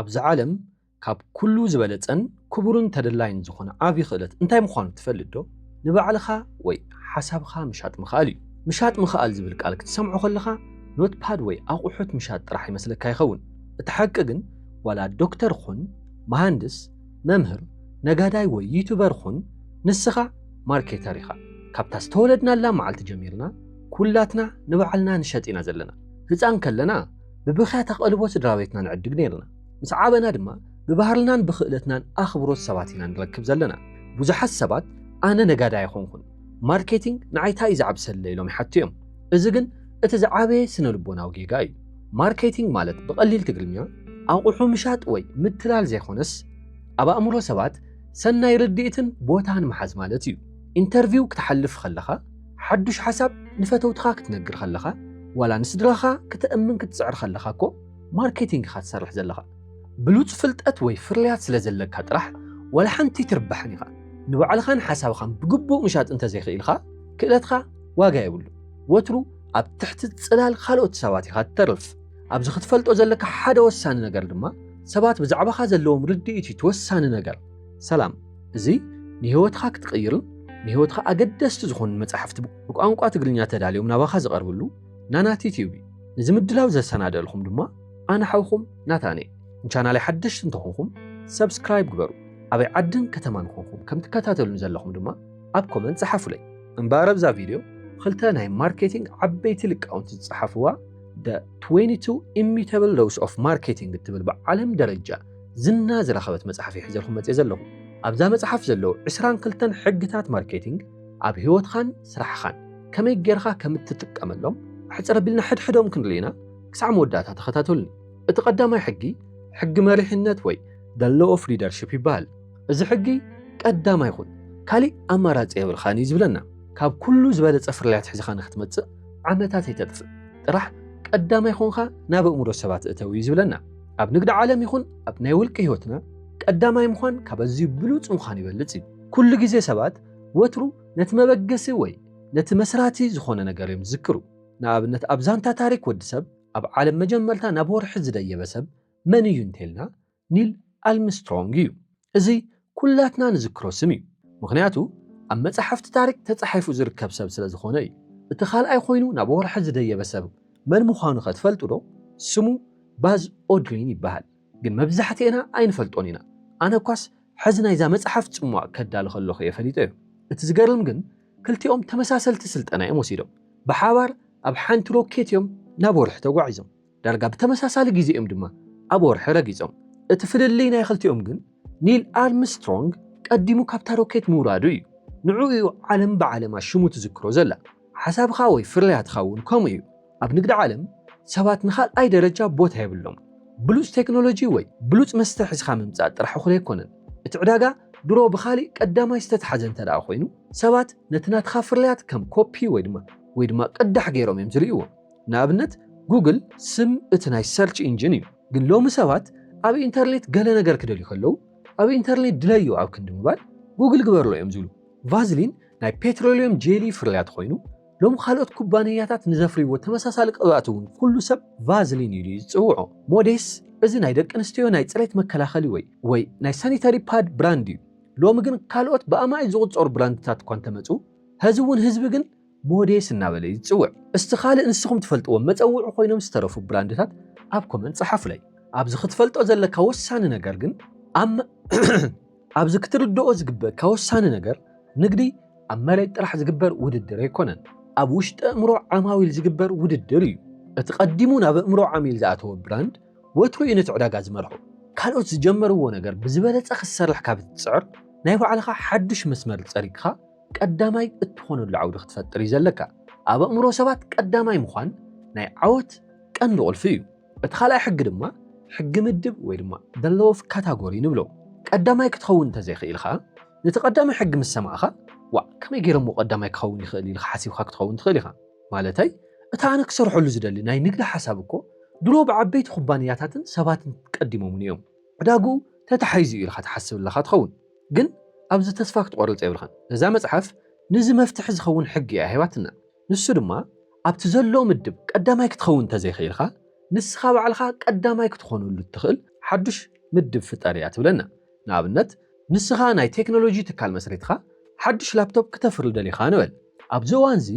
ኣብዛ ዓለም ካብ ኵሉ ዝበለጸን ክቡርን ተደላይን ዝዀነ ዓቢ ኽእለት እንታይ ምዃኑ ትፈልጥዶ? ንባዕልኻ ወይ ሓሳብኻ ምሻጥ ምኽኣል እዩ። ምሻጥ ምኽኣል ዝብል ቃል ክትሰምዖ ኸለኻ ኖትፓድ ወይ ኣቝሑት ምሻጥ ጥራሕ ይመስለካ ይኸውን። እቲ ሓቂ ግን ዋላ ዶክተር ኹን፣ መሃንድስ፣ መምህር፣ ነጋዳይ ወይ ዩቱበር ኹን ንስኻ ማርኬተር ኢኻ። ካብታ ዝተወለድናላ መዓልቲ ጀሚርና ኵላትና ንባዕልና ንሸጥ ኢና ዘለና። ህጻን ከለና ብብኽያት ኣቐልቦ ስድራቤትና ንዕድግ ነይርና። ምስ ዓበና ድማ ብባህርልናን ብኽእለትናን ኣኽብሮት ሰባት ኢና ንረክብ ዘለና። ብዙሓት ሰባት ኣነ ነጋዳይ ኣይኮንኩን፣ ማርኬቲንግ ንዓይ ታይ እዩ ዝዓብሰለይ ኢሎም ይሓቱ እዮም። እዚ ግን እቲ ዝዓበየ ስነልቦናዊ ጌጋ እዩ። ማርኬቲንግ ማለት ብቐሊል ትግርኛ ኣቑሑ ምሻጥ ወይ ምትላል ዘይኮነስ ኣብ ኣእምሮ ሰባት ሰናይ ርድኢትን ቦታን ምሓዝ ማለት እዩ። ኢንተርቪው ክትሓልፍ ከለኻ ሓዱሽ ሓሳብ ንፈተውትኻ ክትነግር ከለኻ ዋላ ንስድራኻ ክተእምን ክትጽዕር ከለኻ እኮ ማርኬቲንግ ኢኻ ትሰርሕ ዘለኻ። ብሉጽ ፍልጠት ወይ ፍርያት ስለ ዘለካ ጥራሕ ዋላ ሓንቲ ኣይትርባሕን ኢኻ። ንባዕልኻን ሓሳብኻን ብግቡእ ምሻጥ እንተ ዘይክኢልካ ክእለትካ ዋጋ የብሉን። ወትሩ ኣብ ትሕቲ ጽላል ካልኦት ሰባት ኢኻ ትተርፍ። ኣብዚ ክትፈልጦ ዘለካ ሓደ ወሳኒ ነገር ድማ ሰባት ብዛዕባኻ ዘለዎም ርድኢት እዩ እቲ ወሳኒ ነገር። ሰላም! እዚ ንህይወትኻ ክትቕይርን ንህይወትኻ ኣገደስቲ ዝኾኑ መጻሕፍቲ ብቋንቋ ትግርኛ ተዳልዮም ናባኻ ዝቐርብሉ ናናቲ ቲዩብ እዩ። ነዚ ምድላው ዘሰናደእልኹም ድማ ኣነ ሓውኹም ናታንየ። ንቻናለይ ሓደሽቲ እንተኾንኹም ሰብስክራይብ ግበሩ። ኣበይ ዓድን ከተማን ኮንኩም ከም ትከታተሉኒ ዘለኹም ድማ ኣብ ኮመንት ጸሓፉለይ። እምበኣር ኣብዛ ቪድዮ ኽልተ ናይ ማርኬቲንግ ዓበይቲ ልቃውንቲ ዝጸሓፍዋ The 22 Immutable Laws of Marketing እትብል ብዓለም ደረጃ ዝና ዝረኸበት መጽሓፍ እየ ሒዘልኩም መጽየ ዘለኹ። ኣብዛ መጽሓፍ ዘለዉ ዕስራን ክልተን ሕግታት ማርኬቲንግ ኣብ ህይወትኻን ስራሕኻን ከመይ ጌርኻ ከም እትጥቀመሎም ኣሕጽር ኣቢልና ሕድሕዶም ክንርኢ ኢና። ክሳዕ መወዳእታ ተኸታተሉኒ። እቲ ቀዳማይ ሕጊ ሕጊ መሪሕነት ወይ The Law of Leadership ይበሃል። እዚ ሕጊ ቀዳማይ ኩን፣ ካሊእ ኣማራጺ የብልካን እዩ ዝብለና። ካብ ኩሉ ዝበለጸ ፍርያት ሒዝኻ ንክትመጽእ ዓመታት ኣይተጥፍእ፣ ጥራሕ ቀዳማይ ኮንካ ናብ ኣእምሮ ሰባት እተው እዩ ዝብለና። ኣብ ንግዲ ዓለም ይኹን ኣብ ናይ ውልቂ ህይወትና ቀዳማይ ምዃን ካብ ኣዝዩ ብሉፅ ምዃን ይበልፅ እዩ። ኩሉ ግዜ ሰባት ወትሩ ነቲ መበገሲ ወይ ነቲ መስራቲ ዝኾነ ነገር እዮም ዝዝክሩ። ንኣብነት ኣብ ዛንታ ታሪክ ወዲ ሰብ ኣብ ዓለም መጀመርታ ናብ ወርሒ ዝደየበ ሰብ መን እዩ እንተይልና ኒል ኣልምስትሮንግ እዩ። እዚ ኩላትና ንዝክሮ ስም እዩ ምክንያቱ ኣብ መጻሕፍቲ ታሪክ ተጻሒፉ ዝርከብ ሰብ ስለ ዝኮነ እዩ እቲ ካልኣይ ኮይኑ ናብ ወርሒ ዝደየበ ሰብ መን ምኳኑ ከ ትፈልጡ ዶ ስሙ ባዝ ኦድሪን ይበሃል ግን መብዛሕቲኤና ኣይንፈልጦን ኢና ኣነ እኳስ ሕዚ ናይዛ መጽሓፍ ጽሟቅ ከዳሉ ከለኩ እየ ፈሊጠዮ እቲ ዝገርም ግን ክልቲኦም ተመሳሰልቲ ስልጠና እዮም ወሲዶም ብሓባር ኣብ ሓንቲ ሮኬት እዮም ናብ ወርሒ ተጓዒዞም ዳርጋ ብተመሳሳሊ ግዜ እዮም ድማ ኣብ ወርሒ ረጊጾም። እቲ ፍልልይ ናይ ክልቲኦም ግን ኒል ኣርምስትሮንግ ቀዲሙ ካብታ ሮኬት ምውራዱ እዩ። ንዕኡ እዩ ዓለም ብዓለማ ሽሙ ትዝክሮ ዘላ። ሓሳብኻ ወይ ፍርያትካ እውን ከምኡ እዩ። ኣብ ንግዲ ዓለም ሰባት ንኻልኣይ ደረጃ ቦታ የብሎምን። ብሉጽ ቴክኖሎጂ ወይ ብሉጽ መስተ ሒዝካ ምምጻእ ጥራሕ እኹል ኣይኮነን። እቲ ዕዳጋ ድሮ ብኻሊእ ቀዳማይ ዝተታሕዘ እንተድኣ ኮይኑ፣ ሰባት ነቲ ናትካ ፍርያት ከም ኮፒ ወይ ድማ ወይ ድማ ቅዳሕ ገይሮም እዮም ዝርእይዎ። ንኣብነት ጉግል ስም እቲ ናይ ሰርች ኢንጅን እዩ። ግን ሎሚ ሰባት ኣብ ኢንተርኔት ገለ ነገር ክደልዩ ከለዉ ኣብ ኢንተርኔት ድለዩ ኣብ ክንዲ ምባል ጉግል ግበርሎ እዮም ዝብሉ። ቫዝሊን ናይ ፔትሮልዮም ጄሊ ፍርያት ኾይኑ ሎሚ ካልኦት ኩባንያታት ንዘፍርይዎ ተመሳሳሊ ቅብኣት እውን ኩሉ ሰብ ቫዝሊን ኢሉ እዩ ዝፅውዖ። ሞዴስ እዚ ናይ ደቂ ኣንስትዮ ናይ ፅሬት መከላኸሊ ወይ ወይ ናይ ሳኒታሪ ፓድ ብራንድ እዩ። ሎሚ ግን ካልኦት ብኣማኢት ዝቑፀሩ ብራንድታት እኳ እንተመፁ ሀዚ እውን ህዝቢ ግን ሞዴስ እናበለ እዩ ዝጽውዕ። እስቲ ካልእ ንስኹም ትፈልጥዎም መጸውዒ ኮይኖም ዝተረፉ ብራንድታት ኣብ ኮመንት ጸሓፉለይ። ኣብዚ ክትፈልጦ ዘለካ ወሳኒ ነገር ግን ኣብ ኣብዚ ክትርድኦ ዝግበእካ ወሳኒ ነገር ንግዲ ኣብ መሬት ጥራሕ ዝግበር ውድድር ኣይኮነን። ኣብ ውሽጢ ኣእምሮ ዓማዊል ዝግበር ውድድር እዩ። እቲ ቀዲሙ ናብ ኣእምሮ ዓሚል ዝኣተወ ብራንድ ወትሩ እዩ ነቲ ዕዳጋ ዝመርሖ። ካልኦት ዝጀመርዎ ነገር ብዝበለጸ ክትሰርሕ ካብ እትጽዕር ናይ ባዕልኻ ሓዱሽ መስመር ጸሪግካ ቀዳማይ እትኾነሉ ዓውዲ ክትፈጥር እዩ ዘለካ። ኣብ ኣእምሮ ሰባት ቀዳማይ ምዃን ናይ ዓወት ቀንዲ ቁልፊ እዩ። እቲ ካልኣይ ሕጊ ድማ ሕጊ ምድብ ወይ ድማ the law of category ንብሎ። ቀዳማይ ክትኸውን እንተዘይኽኢልካ ነቲ ቀዳማይ ሕጊ ምስ ሰማዕኻ ዋእ ከመይ ገይረ እሞ ቀዳማይ ክኸውን ይኽእል ኢልካ ሓሲብካ ክትኸውን ትኽእል ኢኻ። ማለተይ እቲ ኣነ ክሰርሐሉ ዝደሊ ናይ ንግዲ ሓሳብ እኮ ድሮ ብዓበይቲ ኩባንያታትን ሰባትን ቀዲሞሙኒ እዮም። ዕዳግኡ ተታሒዙ እዩ ኢልካ ትሓስብ ኣለኻ ትኸውን። ግን ኣብዚ ተስፋ ክትቆርጽ የብልካን እዛ መጽሓፍ ንዚ መፍትሒ ዝከውን ሕጊ እያ ሂባትና ንሱ ድማ ኣብቲ ዘሎ ምድብ ቀዳማይ ክትከውን እንተዘይክኢልካ ንስካ ባዕልካ ቀዳማይ ክትኮነሉ እትክእል ሓዱሽ ምድብ ፍጠር እያ ትብለና ንኣብነት ንስካ ናይ ቴክኖሎጂ ትካል መስሪትካ ሓዱሽ ላፕቶፕ ክተፍሪ ደሊካ ንበል ኣብዚ እዋንዚ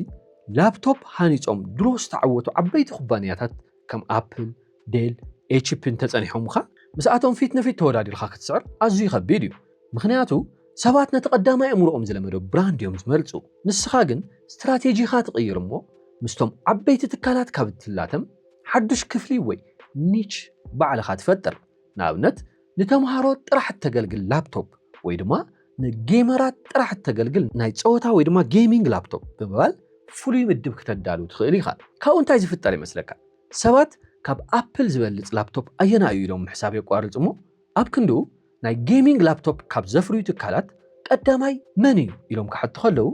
ላፕቶፕ ሃኒጾም ድሮ ዝተዓወቱ ዓበይቲ ኩባንያታት ከም ኣፕል ዴል፣ ኤችፒ እንተጸኒሖምኻ ምስኣቶም ፊት ንፊት ተወዳዲርካ ክትስዕር ኣዝዩ ከቢድ እዩ። ምኽንያቱ ሰባት ነቲ ቀዳማይ ኣእምሮኦም ዝለመዶ ብራንድ እዮም ዝመርጹ። ንስኻ ግን ስትራቴጂኻ ትቕይር እሞ ምስቶም ዓበይቲ ትካላት ካብ እትላተም ሓዱሽ ክፍሊ ወይ ኒች ባዕልኻ ትፈጥር። ንኣብነት ንተምሃሮ ጥራሕ እተገልግል ላፕቶፕ ወይ ድማ ንጌመራት ጥራሕ እተገልግል ናይ ጸወታ ወይ ድማ ጌሚንግ ላፕቶፕ ብምባል ፍሉይ ምድብ ክተዳሉ ትኽእል ኢኻ። ካብኡ እንታይ ዝፍጠር ይመስለካ? ሰባት ካብ ኣፕል ዝበልጽ ላፕቶፕ ኣየናይ እዩ ኢሎም ምሕሳብ የቋርጹ እሞ ኣብ ክንድኡ ናይ ጌሚንግ ላፕቶፕ ካብ ዘፍርዩ ትካላት ቀዳማይ መን እዩ ኢሎም ክሓቱ ከለዉ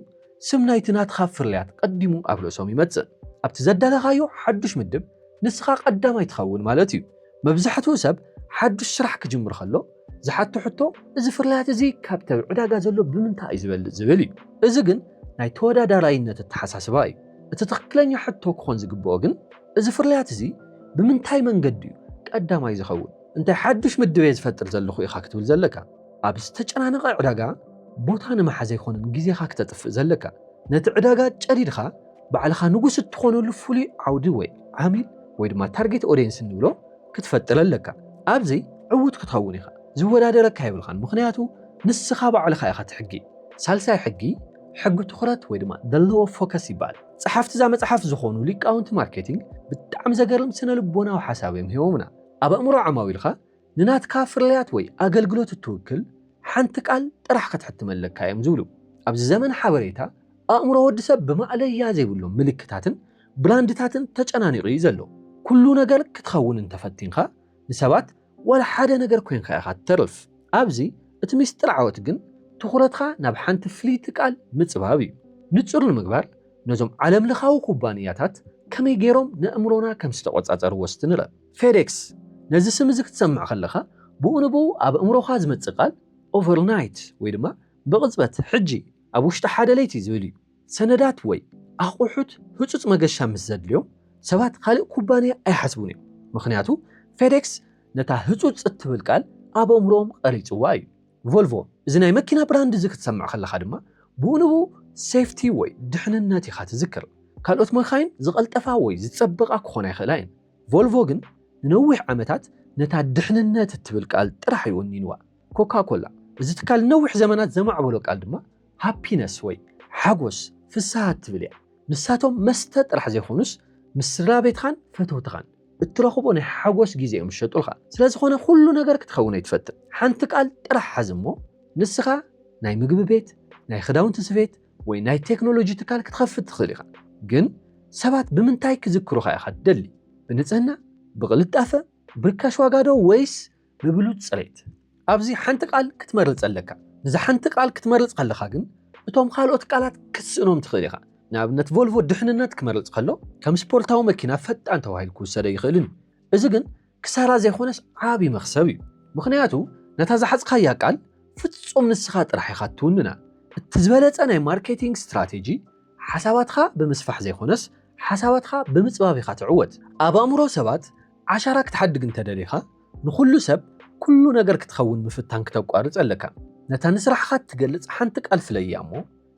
ስም ናይቲ ናትኻ ፍርያት ቀዲሙ ኣብ ርእሶም ይመጽእ። ኣብቲ ዘዳለኻዮ ሓዱሽ ምድብ ንስኻ ቀዳማይ ትኸውን ማለት እዩ። መብዛሕትኡ ሰብ ሓዱሽ ስራሕ ክጅምር ከሎ ዝሓቶ ሕቶ እዚ ፍርያት እዚ ካብቲ ኣብ ዕዳጋ ዘሎ ብምንታይ እዩ ዝበልጽ ዝብል እዩ። እዚ ግን ናይ ተወዳዳራይነት ኣተሓሳስባ እዩ። እቲ ትኽክለኛ ሕቶ ክኾን ዝግበኦ ግን እዚ ፍርያት እዚ ብምንታይ መንገዲ እዩ ቀዳማይ ዝኸውን? እንታይ ሓዱሽ ምድብ እየ ዝፈጥር ዘለኹ ኢኻ ክትብል ዘለካ። ኣብ ዝተጨናነቐ ዕዳጋ ቦታ ንምሓዝ ኣይኮነን ግዜኻ ክተጥፍእ ዘለካ። ነቲ ዕዳጋ ጨዲድኻ ባዕልኻ ንጉስ እትኾነሉ ፍሉይ ዓውዲ ወይ ዓሚል ወይ ድማ ታርጌት ኦዴንስ እንብሎ ክትፈጥር ኣለካ ኣብዚ ዕዉት ክትኸውን ኢኻ ዝወዳደረካ የብልኻን ምኽንያቱ ንስኻ ባዕልኻ ኢኻ እቲ ሕጊ። ሳልሳይ ሕጊ ሕጊ ትኹረት ወይ ድማ the law of focus ይበሃል። ጸሓፍቲ እዛ መጽሓፍ ዝኾኑ ሊቃውንቲ ማርኬቲንግ ብጣዕሚ ዘገርም ስነ ልቦናዊ ሓሳብ እዮም ሂቦምና። ኣብ ኣእምሮ ዓማዊልካ ንናትካ ፍርያት ወይ ኣገልግሎት እትውክል ሓንቲ ቃል ጥራሕ ክትሕትም ኣለካ እዮም ዝብሉ። ኣብዚ ዘመን ሓበሬታ ኣእምሮ ወዲ ሰብ ብማእለያ ዘይብሎም ምልክታትን ብላንድታትን ተጨናኒቑ እዩ ዘሎ። ኩሉ ነገር ክትኸውን እንተፈቲንካ ንሰባት ዋላ ሓደ ነገር ኮይንካ ኢኻ ትተርፍ። ኣብዚ እቲ ሚስጥር ዓወት ግን ትኹረትካ ናብ ሓንቲ ፍልይቲ ቃል ምጽባብ እዩ። ንጹር ንምግባር ነዞም ዓለምለኻዊ ኩባንያታት ከመይ ገይሮም ነእምሮና ከም ዝተቖጻጸርዎ እስቲ ንርእ። ፌዴክስ፣ ነዚ ስም እዚ ክትሰምዕ ከለኻ ብኡ ንብኡ ኣብ ኣእምሮኻ ዝመጽእ ቃል ኦቨርናይት ወይ ድማ ብቕጽበት፣ ሕጂ፣ ኣብ ውሽጢ ሓደ ለይቲ ዝብል እዩ። ሰነዳት ወይ ኣቑሑት ህጹጽ መገሻ ምስ ዘድልዮም ሰባት ኻልእ ኩባንያ ኣይሓስቡን እዮም፣ ምኽንያቱ FedEx ነታ ህጹጽ እትብል ቃል ኣብ ኣእምሮኦም ቐሪጹዋ እዩ። ቮልቮ፣ እዚ ናይ መኪና ብራንድ እዚ ክትሰምዕ ከለኻ ድማ ብኡ ንብኡ ሴፍቲ ወይ ድሕንነት ኢኻ ትዝክር። ካልኦት መካይን ዝቐልጠፋ ወይ ዝጸበቓ ክኾና ይኽእላ እየን፣ ቮልቮ ግን ንነዊሕ ዓመታት ነታ ድሕንነት እትብል ቃል ጥራሕ እዩ ወኒንዋ። ኮካ-ኮላ፣ እዚ ትካል ንነዊሕ ዘመናት ዘማዕበሎ ቃል ድማ ሃፒነስ ወይ ሓጎስ፣ ፍስሃ፣ እትብል እያ። ንሳቶም መስተ ጥራሕ ዘይኮኑስ ምስ ስድራቤትኻን ፈተውትኻን እትረኽቦ ናይ ሓጎስ ግዜ እዮም ዝሸጡልኻ። ስለዝኾነ ኩሉ ነገር ክትኸውን ኣይትፈትን። ሓንቲ ቃል ጥራሕ ሓዝ እሞ ንስኻ ናይ ምግቢ ቤት፣ ናይ ክዳውንቲ ስፌት ወይ ናይ ቴክኖሎጂ ትካል ክትኸፍት ትኽእል ኢኻ። ግን ሰባት ብምንታይ ክዝክሩኻ ኢኻ ትደሊ? ብንጽህና? ብቕልጣፈ? ብርካሽ ዋጋዶ ወይስ ብብሉጽ ጽሬት። ኣብዚ ሓንቲ ቃል ክትመርጽ ኣለካ። ንዛ ሓንቲ ቃል ክትመርጽ ከለኻ ግን እቶም ካልኦት ቃላት ክትስእኖም ትኽእል ኢኻ። ንኣብነት ቮልቮ ድሕንነት ክመርጽ ከሎ ከም ስፖርታዊ መኪና ፈጣን ተባሂሉ ክውሰድ ኣይኽእልን እዩ። እዚ ግን ክሳራ ዘይኮነስ ዓቢ መኽሰብ እዩ። ምኽንያቱ ነታ ዝሓዝካያ ቃል ፍጹም ንስኻ ጥራሕ ኢኻ እትውንና። እቲ ዝበለጸ ናይ ማርኬቲንግ ስትራቴጂ ሓሳባትካ ብምስፋሕ ዘይኮነስ ሓሳባትካ ብምጽባብ ኢኻ ትዕወት። ኣብ ኣእምሮ ሰባት ዓሻራ ክትሓድግ እንተ ደሊኻ፣ ንኹሉ ሰብ ኩሉ ነገር ክትኸውን ምፍታን ክተቋርጽ ኣለካ። ነታ ንስራሕኻ እትገልጽ ሓንቲ ቃል ፍለያ እሞ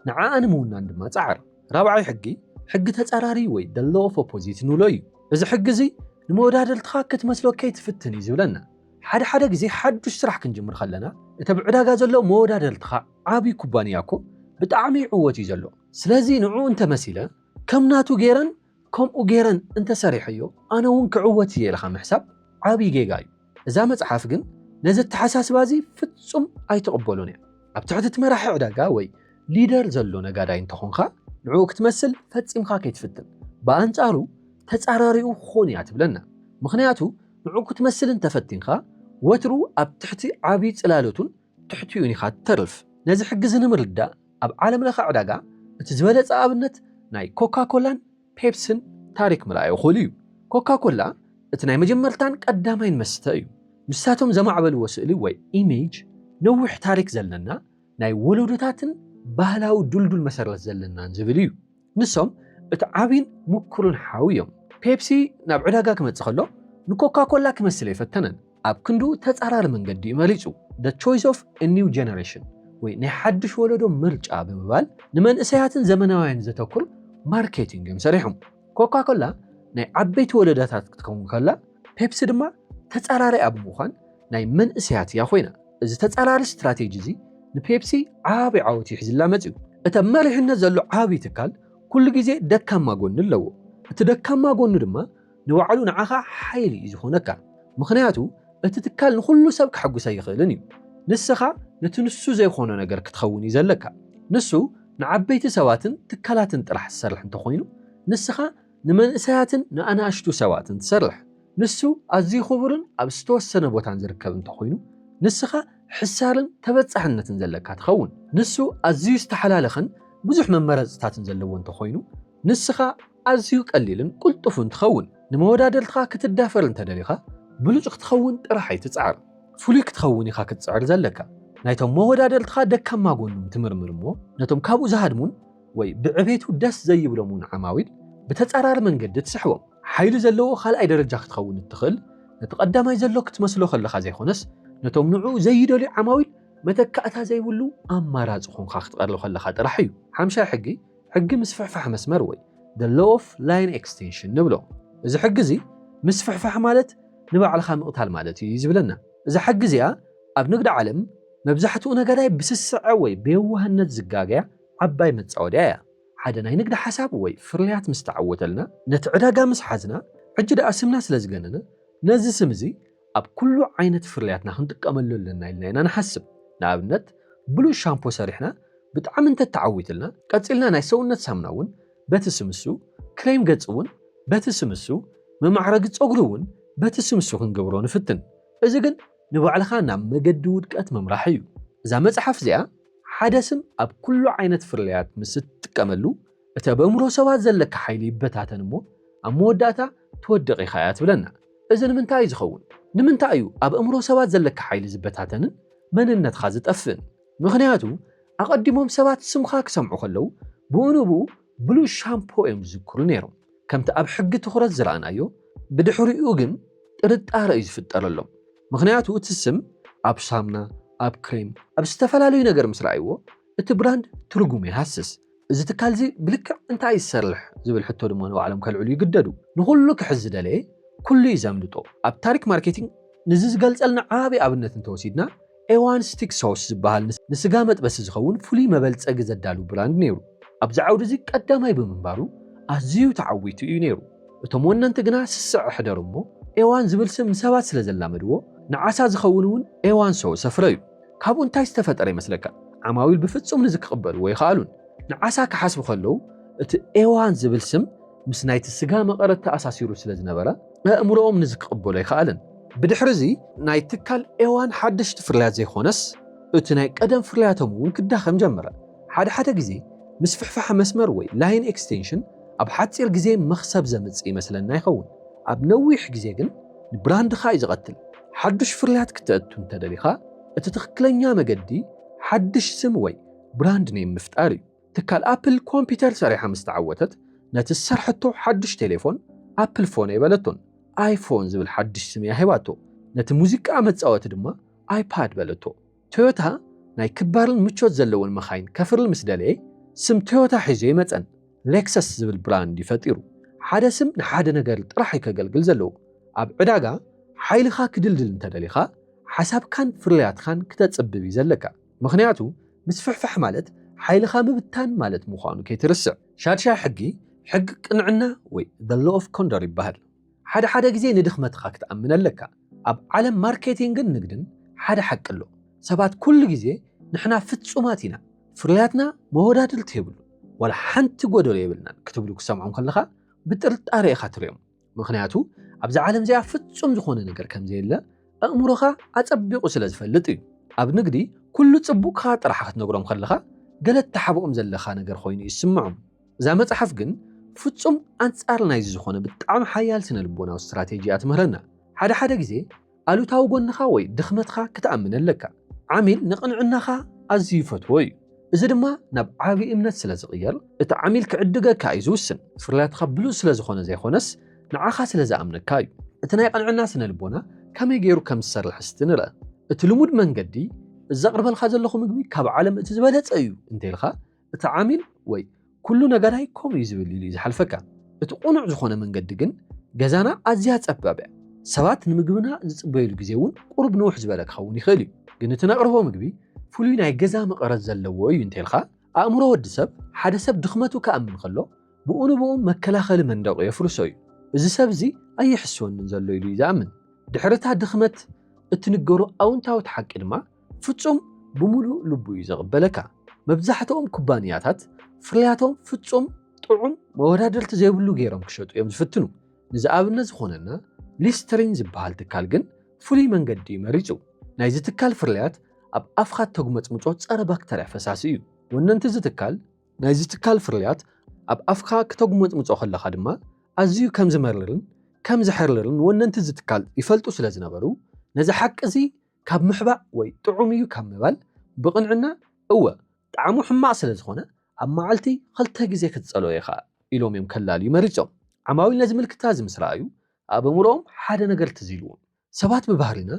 ንዓኣ ንምውናን ድማ ጸዓር። ራብዓይ ሕጊ፣ ሕጊ ተጻራሪ ወይ the law of opposite ንብሎ እዩ። እዚ ሕጊ እዚ ንመወዳድርትኻ ክትመስሎ ከይትፍትን እዩ ዝብለና። ሓደ ሓደ ግዜ ሓዱሽ ስራሕ ክንጅምር ከለና እቲ ኣብ ዕዳጋ ዘሎ መወዳድርትኻ ዓቢ ኩባንያ እኮ ብጣዕሚ ይዕወት እዩ ዘሎ። ስለዚ ንዕኡ እንተ መሲለ ከም ናቱ ገይረን ከምኡ ጌረን እንተሰሪሐዮ ኣነ ውን ክዕወት እየ ኢልኻ ምሕሳብ ዓቢ ጌጋ እዩ። እዛ መጽሓፍ ግን ነዚ ኣተሓሳስባ እዚ ፍጹም ኣይትቕበሎን እያ። ኣብ ትሕቲ እቲ መራሒ ዕዳጋ ወይ ሊደር ዘሎ ነጋዳይ እንተኾንካ ንዕኡ ክትመስል ፈጺምካ ከይትፍትን። ብኣንጻሩ ተጻራሪኡ ክኾን እያ ትብለና። ምኽንያቱ ንዕኡ ክትመስል እንተፈቲንካ ወትሩ ኣብ ትሕቲ ዓቢ ጽላሎቱን ትሕቲኡን ኢኻ ትተርፍ። ነዚ ሕጊ'ዚ ንምርዳእ ኣብ ዓለምለኸ ዕዳጋ እቲ ዝበለጸ ኣብነት ናይ ኮካኮላን ፔፕስን ታሪኽ ምርኣይ እኹል እዩ። ኮካኮላ እቲ ናይ መጀመርታን ቀዳማይን መስተ እዩ። ንሳቶም ዘማዕበልዎ ስእሊ ወይ ኢሜጅ ነዊሕ ታሪኽ ዘለና ናይ ወለዶታትን ባህላዊ ድልዱል መሰረት ዘለናን ዝብል እዩ። ንሶም እቲ ዓብይን ምኩርን ሓው እዮም። ፔፕሲ ናብ ዕዳጋ ክመጽእ ከሎ ንኮካ ኮላ ክመስል ኣይፈተነን። ኣብ ክንድኡ ተጻራሪ መንገዲ እዩ መሪጹ፣ The Choice of a New Generation ወይ ናይ ሓድሽ ወለዶ ምርጫ ብምባል ንመንእሰያትን ዘመናውያንን ዘተኩር ማርኬቲንግ እዮም ሰሪሖም። ኮካ ኮላ ናይ ዓበይቲ ወለዶታት ክትከውን ከላ፣ ፔፕሲ ድማ ተጻራሪኣ ብምዃን ናይ መንእሰያት እያ ኮይና። እዚ ተፃራሪ ስትራቴጂ እዚ ንፔፕሲ ዓብይ ዓወት እዩ ሒዝላ መፂኡ። እቲ ኣብ መሪሕነት ዘሎ ዓብይ ትካል ኩሉ ግዜ ደካማ ጎኒ ኣለዎ። እቲ ደካማ ጎኑ ድማ ንባዕሉ ንዓኻ ሓይሊ እዩ ዝኾነካ። ምኽንያቱ እቲ ትካል ንኹሉ ሰብ ከሐጉስ ኣይኽእልን እዩ። ንስኻ ነቲ ንሱ ዘይኾኖ ነገር ክትኸውን እዩ ዘለካ። ንሱ ንዓበይቲ ሰባትን ትካላትን ጥራሕ ዝሰርሕ እንተኾይኑ ንስኻ ንመንእሰያትን ንኣናእሽቱ ሰባትን ትሰርሕ። ንሱ ኣዝዩ ክቡርን ኣብ ዝተወሰነ ቦታን ዝርከብ እንተ ዀይኑ፣ ንስኻ ሕሳርን ተበጻሕነትን ዘለካ ትኸውን። ንሱ ኣዝዩ ዝተሓላለኸን ብዙሕ መመረጽታትን ዘለዎ እንተ ዀይኑ፣ ንስኻ ኣዝዩ ቀሊልን ቅልጡፍን ትኸውን። ንመወዳድርትኻ ክትዳፈር እንተ ደሊኻ፣ ብሉጽ ክትኸውን ጥራሕ ኣይትጽዓር። ፍሉይ ክትኸውን ኢኻ ክትጽዕር ዘለካ። ናይቶም መወዳድርትኻ ደካማ ጐኖም ትምርምር እሞ፣ ነቶም ካብኡ ዝሃድሙን ወይ ብዕቤቱ ደስ ዘይብሎም እውን ዓማዊል ብተጻራሪ መንገዲ ትስሕቦም። ሓይሊ ዘለዎ ካልኣይ ደረጃ ክትኸውን እትኽእል ነቲ ቀዳማይ ዘሎ ክትመስሎ ከለኻ ዘይኮነስ ነቶም ንዕኡ ዘይደልዩ ዓማዊል መተካእታ ዘይብሉ ኣማራጺ ኮንካ ክትቐርብ ከለኻ ጥራሕ እዩ። ሓምሻይ ሕጊ፣ ሕጊ ምስፍሕፋሕ መስመር ወይ The Law of Line Extension ንብሎ። እዚ ሕጊ እዚ ምስፍሕፋሕ ማለት ንባዕልኻ ምቕታል ማለት እዩ እዩ ዝብለና። እዛ ሕጊ እዚኣ ኣብ ንግድ ዓለም መብዛሕትኡ ነጋዳይ ብስስዐ ወይ ብየዋህነት ዝጋገያ፣ ዓባይ መጻወድያ እያ። ሓደ ናይ ንግዲ ሓሳብ ወይ ፍርያት ምስ ተዓወተልና፣ ነቲ ዕዳጋ ምስ ሓዝና፣ ሕጂ ደኣ ስምና ስለ ዝገነነ፣ ነዚ ስም እዚ ኣብ ኵሉ ዓይነት ፍርያትና ክንጥቀመሉ ኣለና ኢልና ኢና ንሓስብ። ንኣብነት፣ ብሉጽ ሻምፖ ሰሪሕና ብጣዕሚ እንተ ተዓዊትልና፣ ቀጺልና ናይ ሰውነት ሳሙና እውን በቲ ስም እሱ፣ ክሬም ገጽ እውን በቲ ስም እሱ፣ መማዕረጊ ጸጕሪ እውን በቲ ስም እሱ ክንገብሮ ንፍትን። እዚ ግን ንባዕልኻ ናብ መገዲ ውድቀት ምምራሕ እዩ። እዛ መጽሓፍ እዚኣ ሓደ ስም ኣብ ኩሉ ዓይነት ፍርያት ምስ እትጥቀመሉ፣ እቲ ኣብ ኣእምሮ ሰባት ዘለካ ሓይሊ ይበታተን እሞ ኣብ መወዳእታ ትወድቕ ኢኻ እያ ትብለና። እዚ ንምንታይ እዩ ዝኸውን? ንምንታይ እዩ ኣብ ኣእምሮ ሰባት ዘለካ ሓይሊ ዝበታተንን መንነትካ ዝጠፍእን? ምኽንያቱ ኣቐዲሞም ሰባት ስምካ ክሰምዑ ከለው ብኡ ንብኡ ብሉጽ ሻምፖ እዮም ዝዝክሩ ነይሮም። ከምቲ ኣብ ሕጊ ትኹረት ዝረኣናዮ፣ ብድሕሪኡ ግን ጥርጣረ እዩ ዝፍጠረሎም። ምኽንያቱ እቲ ስም ኣብ ሳምና፣ ኣብ ክሬም፣ ኣብ ዝተፈላለዩ ነገር ምስ ረኣይዎ፣ እቲ ብራንድ ትርጉሙ ይሃስስ። እዚ ትካል'ዚ ብልክዕ እንታይ እዩ ዝሰርሕ ዝብል ሕቶ ድማ ንባዕሎም ከልዕሉ ይግደዱ። ንኹሉ ክሕዝ ዝደለየ ኩሉ እዩ ዘምልጦ። ኣብ ታሪክ ማርኬቲንግ ንዚ ዝገልጸልና ዓቢ ኣብነት እንተወሲድና፣ ኤዋን ስቲክ ሶስ ዝበሃል ንስጋ መጥበሲ ዝኸውን ፍሉይ መበልጸጊ ዘዳሉ ብራንድ ነይሩ። ኣብዚ ዓውዲ'ዚ ቀዳማይ ብምንባሩ ኣዝዩ ተዓዊቱ እዩ ነይሩ። እቶም ወነንቲ ግና ስስዐ ሕደሩ እሞ ኤዋን ዝብል ስም ንሰባት ስለ ዘላመድዎ፣ ንዓሳ ዝኸውን እውን ኤዋን ሶስ ኣፍረዩ። ካብኡ እንታይ ዝተፈጠረ ይመስለካ? ዓማዊል ብፍጹም ነዚ ክቕበልዎ ኣይኸኣሉን። ንዓሳ ክሓስቡ ከለዉ እቲ ኤዋን ዝብል ስም ምስ ናይቲ ስጋ መቐረት ተኣሳሲሩ ስለ ዝነበረ፣ ኣእምሮኦም ንዚ ክቕበሎ ኣይከኣለን። ብድሕርዚ ናይ ትካል ኤዋን ሓደሽቲ ፍርያት ዘይኮነስ እቲ ናይ ቀደም ፍርያቶም እውን ክዳኸም ጀመረ። ሓደ ሓደ ግዜ ምስፍሕፋሕ መስመር ወይ ላይን ኤክስቴንሽን ኣብ ሓጺር ግዜ መኽሰብ ዘምጽእ ይመስለና ይኸውን፣ ኣብ ነዊሕ ግዜ ግን ንብራንድኻ እዩ ዝቐትል። ሓዱሽ ፍርያት ክተእቱ እንተደሊኻ እቲ ትኽክለኛ መገዲ ሓድሽ ስም ወይ ብራንድ ኔም ምፍጣር እዩ። ትካል ኣፕል ኮምፒተር ሰሪሓ ምስ ተዓወተት ነቲ ዝሰርሐቶ ሓዱሽ ቴሌፎን ኣፕል ፎን'የ በለቶን ኣይፎን ዝብል ሓዱሽ ስም'ያ ሂባቶ። ነቲ ሙዚቃ መጻወቲ ድማ ኣይፓድ በለቶ። ቶዮታ ናይ ክባርን ምቾት ዘለወን መኻይን ከፍሪ ምስ ደለየ ስም ቶዮታ ሒዙ ኣይመጸን። ሌክሰስ ዝብል ብራንድ'ዩ ፈጢሩ። ሓደ ስም ንሓደ ነገር ጥራሕ'ዩ ከገልግል ዘለዎ። ኣብ ዕዳጋ ሓይልኻ ክድልድል እንተደሊኻ ሓሳብካን ፍርያትኻን ክተጽብብ'ዩ ዘለካ። ምኽንያቱ ምስፍሕፋሕ ማለት ሓይልኻ ምብታን ማለት ምዃኑ ከይትርስዕ። ሻድሻይ ሕጊ፣ ሕጊ ቅንዕና ወይ the law of condor ይበሃል። ሓደ ሓደ ግዜ ንድኽመትኻ ክትኣምን ኣለካ። ኣብ ዓለም ማርኬቲንግን ንግድን ሓደ ሓቂ ኣሎ፣ ሰባት ኩሉ ግዜ ንሕና ፍጹማት ኢና፣ ፍርያትና መወዳድርቲ የብሉን፣ ዋላ ሓንቲ ጎደሎ የብልናን ክትብሉ ክትሰምዖም ከለኻ ብጥርጣረ ኢኻ ትርእዮም። ምኽንያቱ ኣብዛ ዓለም እዚኣ ፍጹም ዝኾነ ነገር ከም ዘየለ ኣእምሮኻ ኣጸቢቑ ስለ ዝፈልጥ እዩ። ኣብ ንግዲ ኩሉ ጽቡቕካ ጥራሕ ክትነግሮም ከለኻ ገለ እትሓብኦም ዘለኻ ነገር ኮይኑ እዩ ዝስምዖም። እዛ መጽሓፍ ግን ፍጹም ኣንጻር ናይዚ ዝኾነ ብጣዕሚ ሓያል ስነ-ልቦናዊ ስትራቴጂ እያ ትምህረና። ሓደ ሓደ ግዜ ኣሉታዊ ጎንኻ ወይ ድኽመትካ ክትኣምን ኣለካ። ዓሚል ንቕንዕናኻ ኣዝዩ ይፈትዎ እዩ፣ እዚ ድማ ናብ ዓቢ እምነት ስለ ዝቕየር፣ እቲ ዓሚል ክዕድገካ እዩ ዝውስን። ፍርያትካ ብሉጽ ስለ ዝኾነ ዘይኮነስ፣ ንዓኻ ስለ ዝኣምነካ እዩ። እቲ ናይ ቅንዕና ስነ-ልቦና ከመይ ገይሩ ከም ዝሰርሕ እስቲ ንርኣ። እቲ ልሙድ መንገዲ፣ እዚ ዘቕርበልካ ዘለኹ ምግቢ ካብ ዓለም እቲ ዝበለጸ እዩ እንተኢልካ፣ እቲ ዓሚል ወይ ኩሉ ነገራይ ከምኡ እዩ ዝብል ኢሉ እዩ ዝሓልፈካ። እቲ ቅኑዕ ዝኾነ መንገዲ ግን ገዛና ኣዝያ ጸባብ እያ። ሰባት ንምግብና ዝጽበዩሉ ግዜ እውን ቁሩብ ንውሕ ዝበለ ክኸውን ይኽእል እዩ። ግን እቲ ነቕርቦ ምግቢ ፍሉይ ናይ ገዛ መቐረት ዘለዎ እዩ እንተይልካ፣ ኣእምሮ ወዲ ሰብ ሓደ ሰብ ድኽመቱ ክኣምን ከሎ ብኡ ንብኡ መከላኸሊ መንደቑ የፍርሶ እዩ። እዚ ሰብ እዚ ኣይሕስወንን ዘሎ ኢሉ እዩ ዝኣምን። ድሕሪ እታ ድኽመት እትንገሮ ኣውንታዊት ሓቂ ድማ፣ ፍጹም ብምሉእ ልቡ እዩ ዘቕበለካ። መብዛሕትኦም ኩባንያታት ፍርያቶም ፍጹም ጥዑም መወዳድርቲ ዘይብሉ ገይሮም ክሸጡ እዮም ዝፍትኑ። ንዝኣብነት ዝኾነና ሊስተሪን ዝበሃል ትካል ግን ፍሉይ መንገዲ እዩ መሪጹ። ናይዚ ትካል ፍርያት ኣብ ኣፍካ እተጉመጽምጾ ጸረ ባክተርያ ፈሳሲ እዩ። ወነንቲ እዚ ትካል፣ ናይዚ ትካል ፍርያት ኣብ ኣፍካ ክተጉመጽምጾ ከለኻ ድማ ኣዝዩ ከም ዝመርርን ከም ዘሕርርን ወነንቲ እዚ ትካል ይፈልጡ ስለ ዝነበሩ ነዚ ሓቂ እዚ ካብ ምሕባእ ወይ ጥዑም እዩ ካብ ምባል ብቕንዕና እወ ጣዕሙ ሕማቕ ስለ ዝኾነ ኣብ መዓልቲ ኽልተ ግዜ ክትጸልኦ ኢኻ ኢሎም እዮም ከላልዩ መሪጾም። ዓማዊል ነዚ ምልክታ እዚ ምስ ረኣዩ ኣብ ኣእምሮኦም ሓደ ነገር ትዝ ኢልዎም። ሰባት ብባህሪና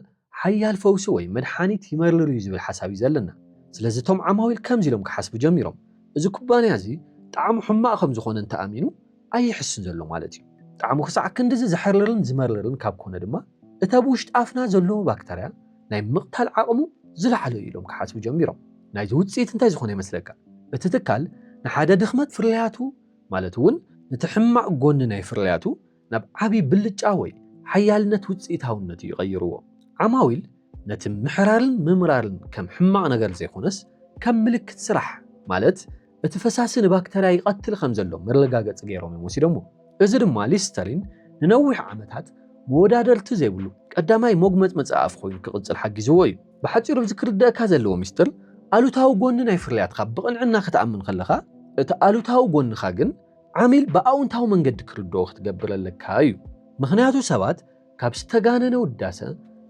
ሓያል ፈውሲ ወይ መድሓኒት ይመርር እዩ ዝብል ሓሳብ እዩ ዘለና። ስለዚ እቶም ዓማዊል ከምዚ ኢሎም ክሓስቡ ጀሚሮም፣ እዚ ኩባንያ እዚ ጣዕሙ ሕማቕ ከም ዝኾነ እንተ ኣሚኑ፣ ኣይሕስን ዘሎ ማለት እዩ። ጣዕሙ ክሳዕ ክንድዚ ዘሕርርን ዝመርርን ካብ ኮነ ድማ እቲ ኣብ ውሽጢ ኣፍና ዘሎ ባክተርያ ናይ ምቕታል ዓቕሙ ዝለዓለ እዩ ኢሎም ክሓስቡ ጀሚሮም። ናይዚ ውጽኢት እንታይ ዝኾነ ይመስለካ? እቲ ትካል ንሓደ ድኽመት ፍርያቱ ማለት እውን ነቲ ሕማቕ ጎኒ ናይ ፍርያቱ ናብ ዓቢ ብልጫ ወይ ሓያልነት ውጽኢታውነት እዩ ቀይርዎ። ዓማዊል ነቲ ምሕራርን ምምራርን ከም ሕማቕ ነገር ዘይኮነስ ከም ምልክት ስራሕ ማለት እቲ ፈሳሲ ንባክተርያ ይቐትል ከም ዘሎ መረጋገጺ ገይሮም እዮም ወሲዶምዎ። እዚ ድማ ሊስተሪን ንነዊሕ ዓመታት መወዳደርቲ ዘይብሉ ቀዳማይ ሞግመጽመጺ ኣፍ ኮይኑ ክቕጽል ሓጊዝዎ እዩ። ብሓጺሩ ኣብዚ ክርደኣካ ዘለዎ ምስጢር ኣሉታዊ ጎኒ ናይ ፍርያትካ ብቕንዕና ክትኣምን ከለኻ እቲ ኣሉታዊ ጎንኻ ግን ዓሚል ብኣውንታዊ መንገዲ ክርድኦ ክትገብር ኣለካ እዩ። ምኽንያቱ ሰባት ካብ ዝተጋነነ ውዳሰ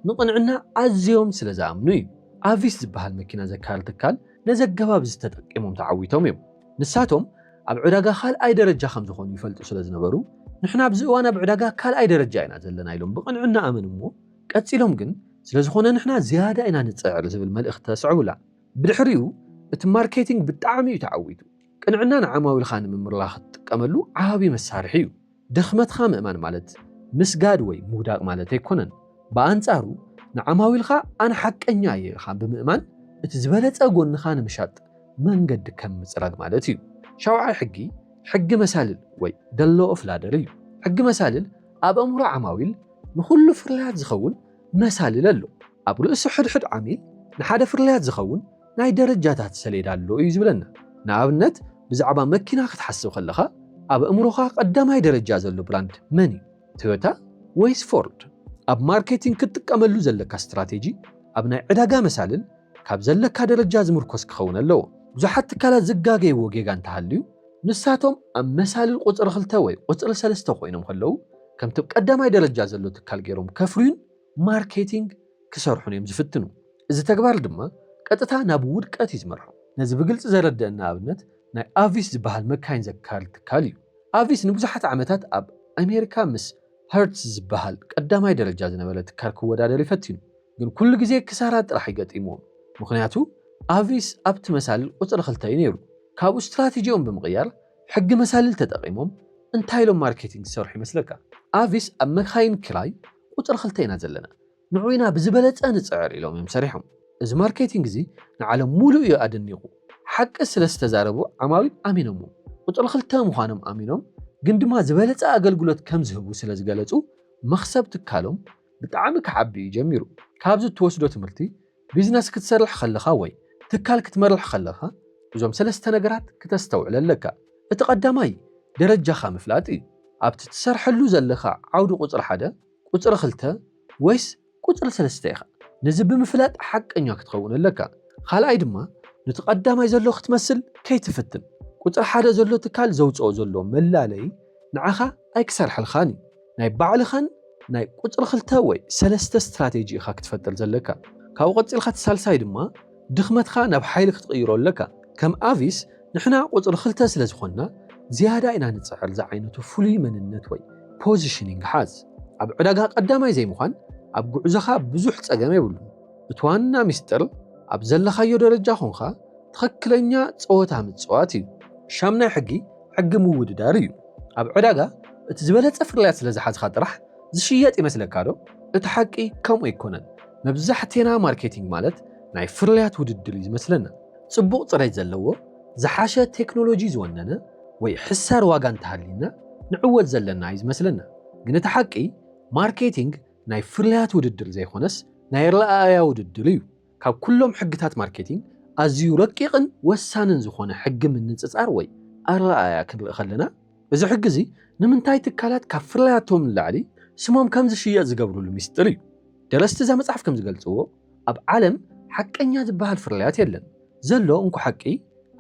ንቕንዕና ኣዝዮም ስለ ዝኣምኑ እዩ። ኣቪስ ዝበሃል መኪና ዘካሪ ትካል ነዚ ኣገባብ እዚ ተጠቂሞም ተዓዊቶም እዮም። ንሳቶም ኣብ ዕዳጋ ካልኣይ ደረጃ ከም ዝኾኑ ይፈልጡ ስለ ዝነበሩ፣ ንሕና ኣብዚ እዋን ኣብ ዕዳጋ ካልኣይ ደረጃ ኢና ዘለና ኢሎም ብቕንዕና ኣመንዎ፣ ቀጺሎም ግን ስለ ዝኾነ ንሕና ዝያዳ ኢና ንጽዕር ዝብል መልእኽቲ ተስዕቡላ። ብድሕሪኡ እቲ ማርኬቲንግ ብጣዕሚ እዩ ተዓዊቱ። ቅንዕና ንዓማዊልካ ንምምርላኽ እትጥቀመሉ ዓቢ መሳርሒ እዩ። ድኽመትካ ምእማን ማለት ምስጋድ ወይ ምውዳቕ ማለት ኣይኮነን። ብኣንጻሩ ንዓማዊልካ ኣነ ሓቀኛ እየ ኢልካ ብምእማን እቲ ዝበለጸ ጎንኻ ንምሻጥ መንገዲ ከም ምጽራግ ማለት እዩ። ሻውዓይ ሕጊ ሕጊ መሳልል ወይ The Law of Ladder እዩ። ሕጊ መሳልል ኣብ ኣእምሮ ዓማዊል ንኹሉ ፍርያት ዝኸውን መሳልል ኣሎ። ኣብ ርእሲ ሕድሕድ ዓሚል ንሓደ ፍርያት ዝኸውን ናይ ደረጃታት ሰሌዳ ኣሎ እዩ ዝብለና። ንኣብነት ብዛዕባ መኪና ክትሓስብ ከለኻ ኣብ ኣእምሮኻ ቀዳማይ ደረጃ ዘሎ ብራንድ መን እዩ? ቶዮታ ወይስ ፎርድ? ኣብ ማርኬቲንግ ክትጥቀመሉ ዘለካ ስትራቴጂ ኣብ ናይ ዕዳጋ መሳልል ካብ ዘለካ ደረጃ ዝምርኮስ ክኸውን ኣለዎ። ብዙሓት ትካላት ዝጋገይዎ ጌጋ እንተሃልዩ ንሳቶም ኣብ መሳልል ቁጽሪ ክልተ ወይ ቁጽሪ ሰለስተ ኮይኖም ከለዉ ከምቲ ብ ቀዳማይ ደረጃ ዘሎ ትካል ጌሮም ከፍርዩን ማርኬቲንግ ክሰርሑን እዮም ዝፍትኑ። እዚ ተግባር ድማ ቀጥታ ናብ ውድቀት እዩ ዝመርሖም። ነዚ ብግልጺ ዘረደኣና ኣብነት ናይ ኣቪስ ዝበሃል መካይን ዘካሪ ትካል እዩ። ኣቪስ ንብዙሓት ዓመታት ኣብ ኣሜሪካ ምስ ሀርትዝ ዝበሃል ቀዳማይ ደረጃ ዝነበረ ትካል ክወዳደር እዩ ፈቲኑ። ግን ኩሉ ግዜ ክሳራ ጥራሕ እዩ ገጢምዎም። ምኽንያቱ ኣቪስ ኣብቲ መሳልል ቁጽሪ ክልተ እዩ ነይሩ። ካብኡ ስትራቴጂኦም ብምቕያር ሕጊ መሳልል ተጠቒሞም እንታይ ኢሎም ማርኬቲንግ ዝሰርሑ ይመስለካ? ኣቪስ ኣብ መካይን ክራይ፣ ቁፅሪ ክልተ ኢና ዘለና ንዑ ኢና ብዝበለፀ ንፅዕር ኢሎም እዮም ሰሪሖም። እዚ ማርኬቲንግ እዚ ንዓለም ሙሉእ እዩ ኣደኒቑ። ሓቂ ስለዝተዛረቡ ዓማዊል ኣሚኖምዎም። ቁፅሪ ክልተ ምዃኖም ኣሚኖም ግን ድማ ዝበለፀ ኣገልግሎት ከምዝህቡ ስለዝገለፁ መኽሰብ ትካሎም ብጣዕሚ ክዓቢ እዩ ጀሚሩ። ካብዚ እትወስዶ ትምህርቲ ቢዝነስ ክትሰርሕ ከለኻ ወይ ትካል ክትመርሕ ከለኻ እዞም ሰለስተ ነገራት ክተስተውዕል ኣለካ። እቲ ቀዳማይ ደረጃኻ ምፍላጥ እዩ። ኣብቲ ትሰርሐሉ ዘለኻ ዓውዲ ቁጽሪ ሓደ፣ ቁጽሪ ክልተ ወይስ ቁጽሪ ሰለስተ ኢኻ? ነዚ ብምፍላጥ ሓቀኛ ክትኸውን ኣለካ። ካልኣይ ድማ ኑቲ ቀዳማይ ዘሎ ክትመስል ከይትፍትን። ቁጽሪ ሓደ ዘሎ ትካል ዘውጽኦ ዘሎ መላለይ ንዓኻ ኣይክሰርሐልካን እዩ። ናይ ባዕልኻን ናይ ቁጽሪ ክልተ ወይ ሰለስተ ስትራቴጂ ኢኻ ክትፈጥር ዘለካ። ካብኡ ቀጺልካ እቲ ሳልሳይ ድማ ድኽመትካ ናብ ሓይሊ ክትቕይሮ ኣለካ። ከም ኣቪስ ንሕና ቁጽሪ ክልተ ስለ ዝኾንና ዝያዳ ኢና ንጽዕር ዝዓይነቱ ፍሉይ መንነት ወይ ፖዚሽኒንግ ሓዝ። ኣብ ዕዳጋ ቀዳማይ ዘይምዃን ኣብ ጉዕዞኻ ብዙሕ ጸገም የብሉን። እቲ ዋና ሚስጥር ኣብ ዘለኻዮ ደረጃ ኮንካ ትኽክለኛ ጸወታ ምጽዋት እዩ። ሻምናይ ሕጊ ሕጊ ምውድዳር እዩ። ኣብ ዕዳጋ እቲ ዝበለጸ ፍርያት ስለ ዝሓዝካ ጥራሕ ዝሽየጥ ይመስለካዶ? እቲ ሓቂ ከምኡ ኣይኮነን። መብዛሕቴና ማርኬቲንግ ማለት ናይ ፍርያት ውድድር እዩ ዝመስለና። ጽቡቕ ጽሬት ዘለዎ፣ ዝሓሸ ቴክኖሎጂ ዝወነነ ወይ ሕሳር ዋጋ እንተሃልዩና ንዕወት ዘለና እዩ ዝመስለና። ግን እቲ ሓቂ ማርኬቲንግ ናይ ፍርያት ውድድር ዘይኮነስ ናይ ኣረኣእያ ውድድር እዩ። ካብ ኩሎም ሕግታት ማርኬቲንግ ኣዝዩ ረቂቕን ወሳንን ዝኾነ ሕጊ ምንጽጻር ወይ ኣረኣእያ ክንርኢ ከለና፣ እዚ ሕጊ እዚ ንምንታይ ትካላት ካብ ፍርያቶም ንላዕሊ ስሞም ከም ዝሽየጥ ዝገብርሉ ሚስጥር እዩ። ደረስቲ እዛ መጽሓፍ ከም ዝገልጽዎ፣ ኣብ ዓለም ሓቀኛ ዝበሃል ፍርያት የለን፣ ዘሎ እንኮ ሓቂ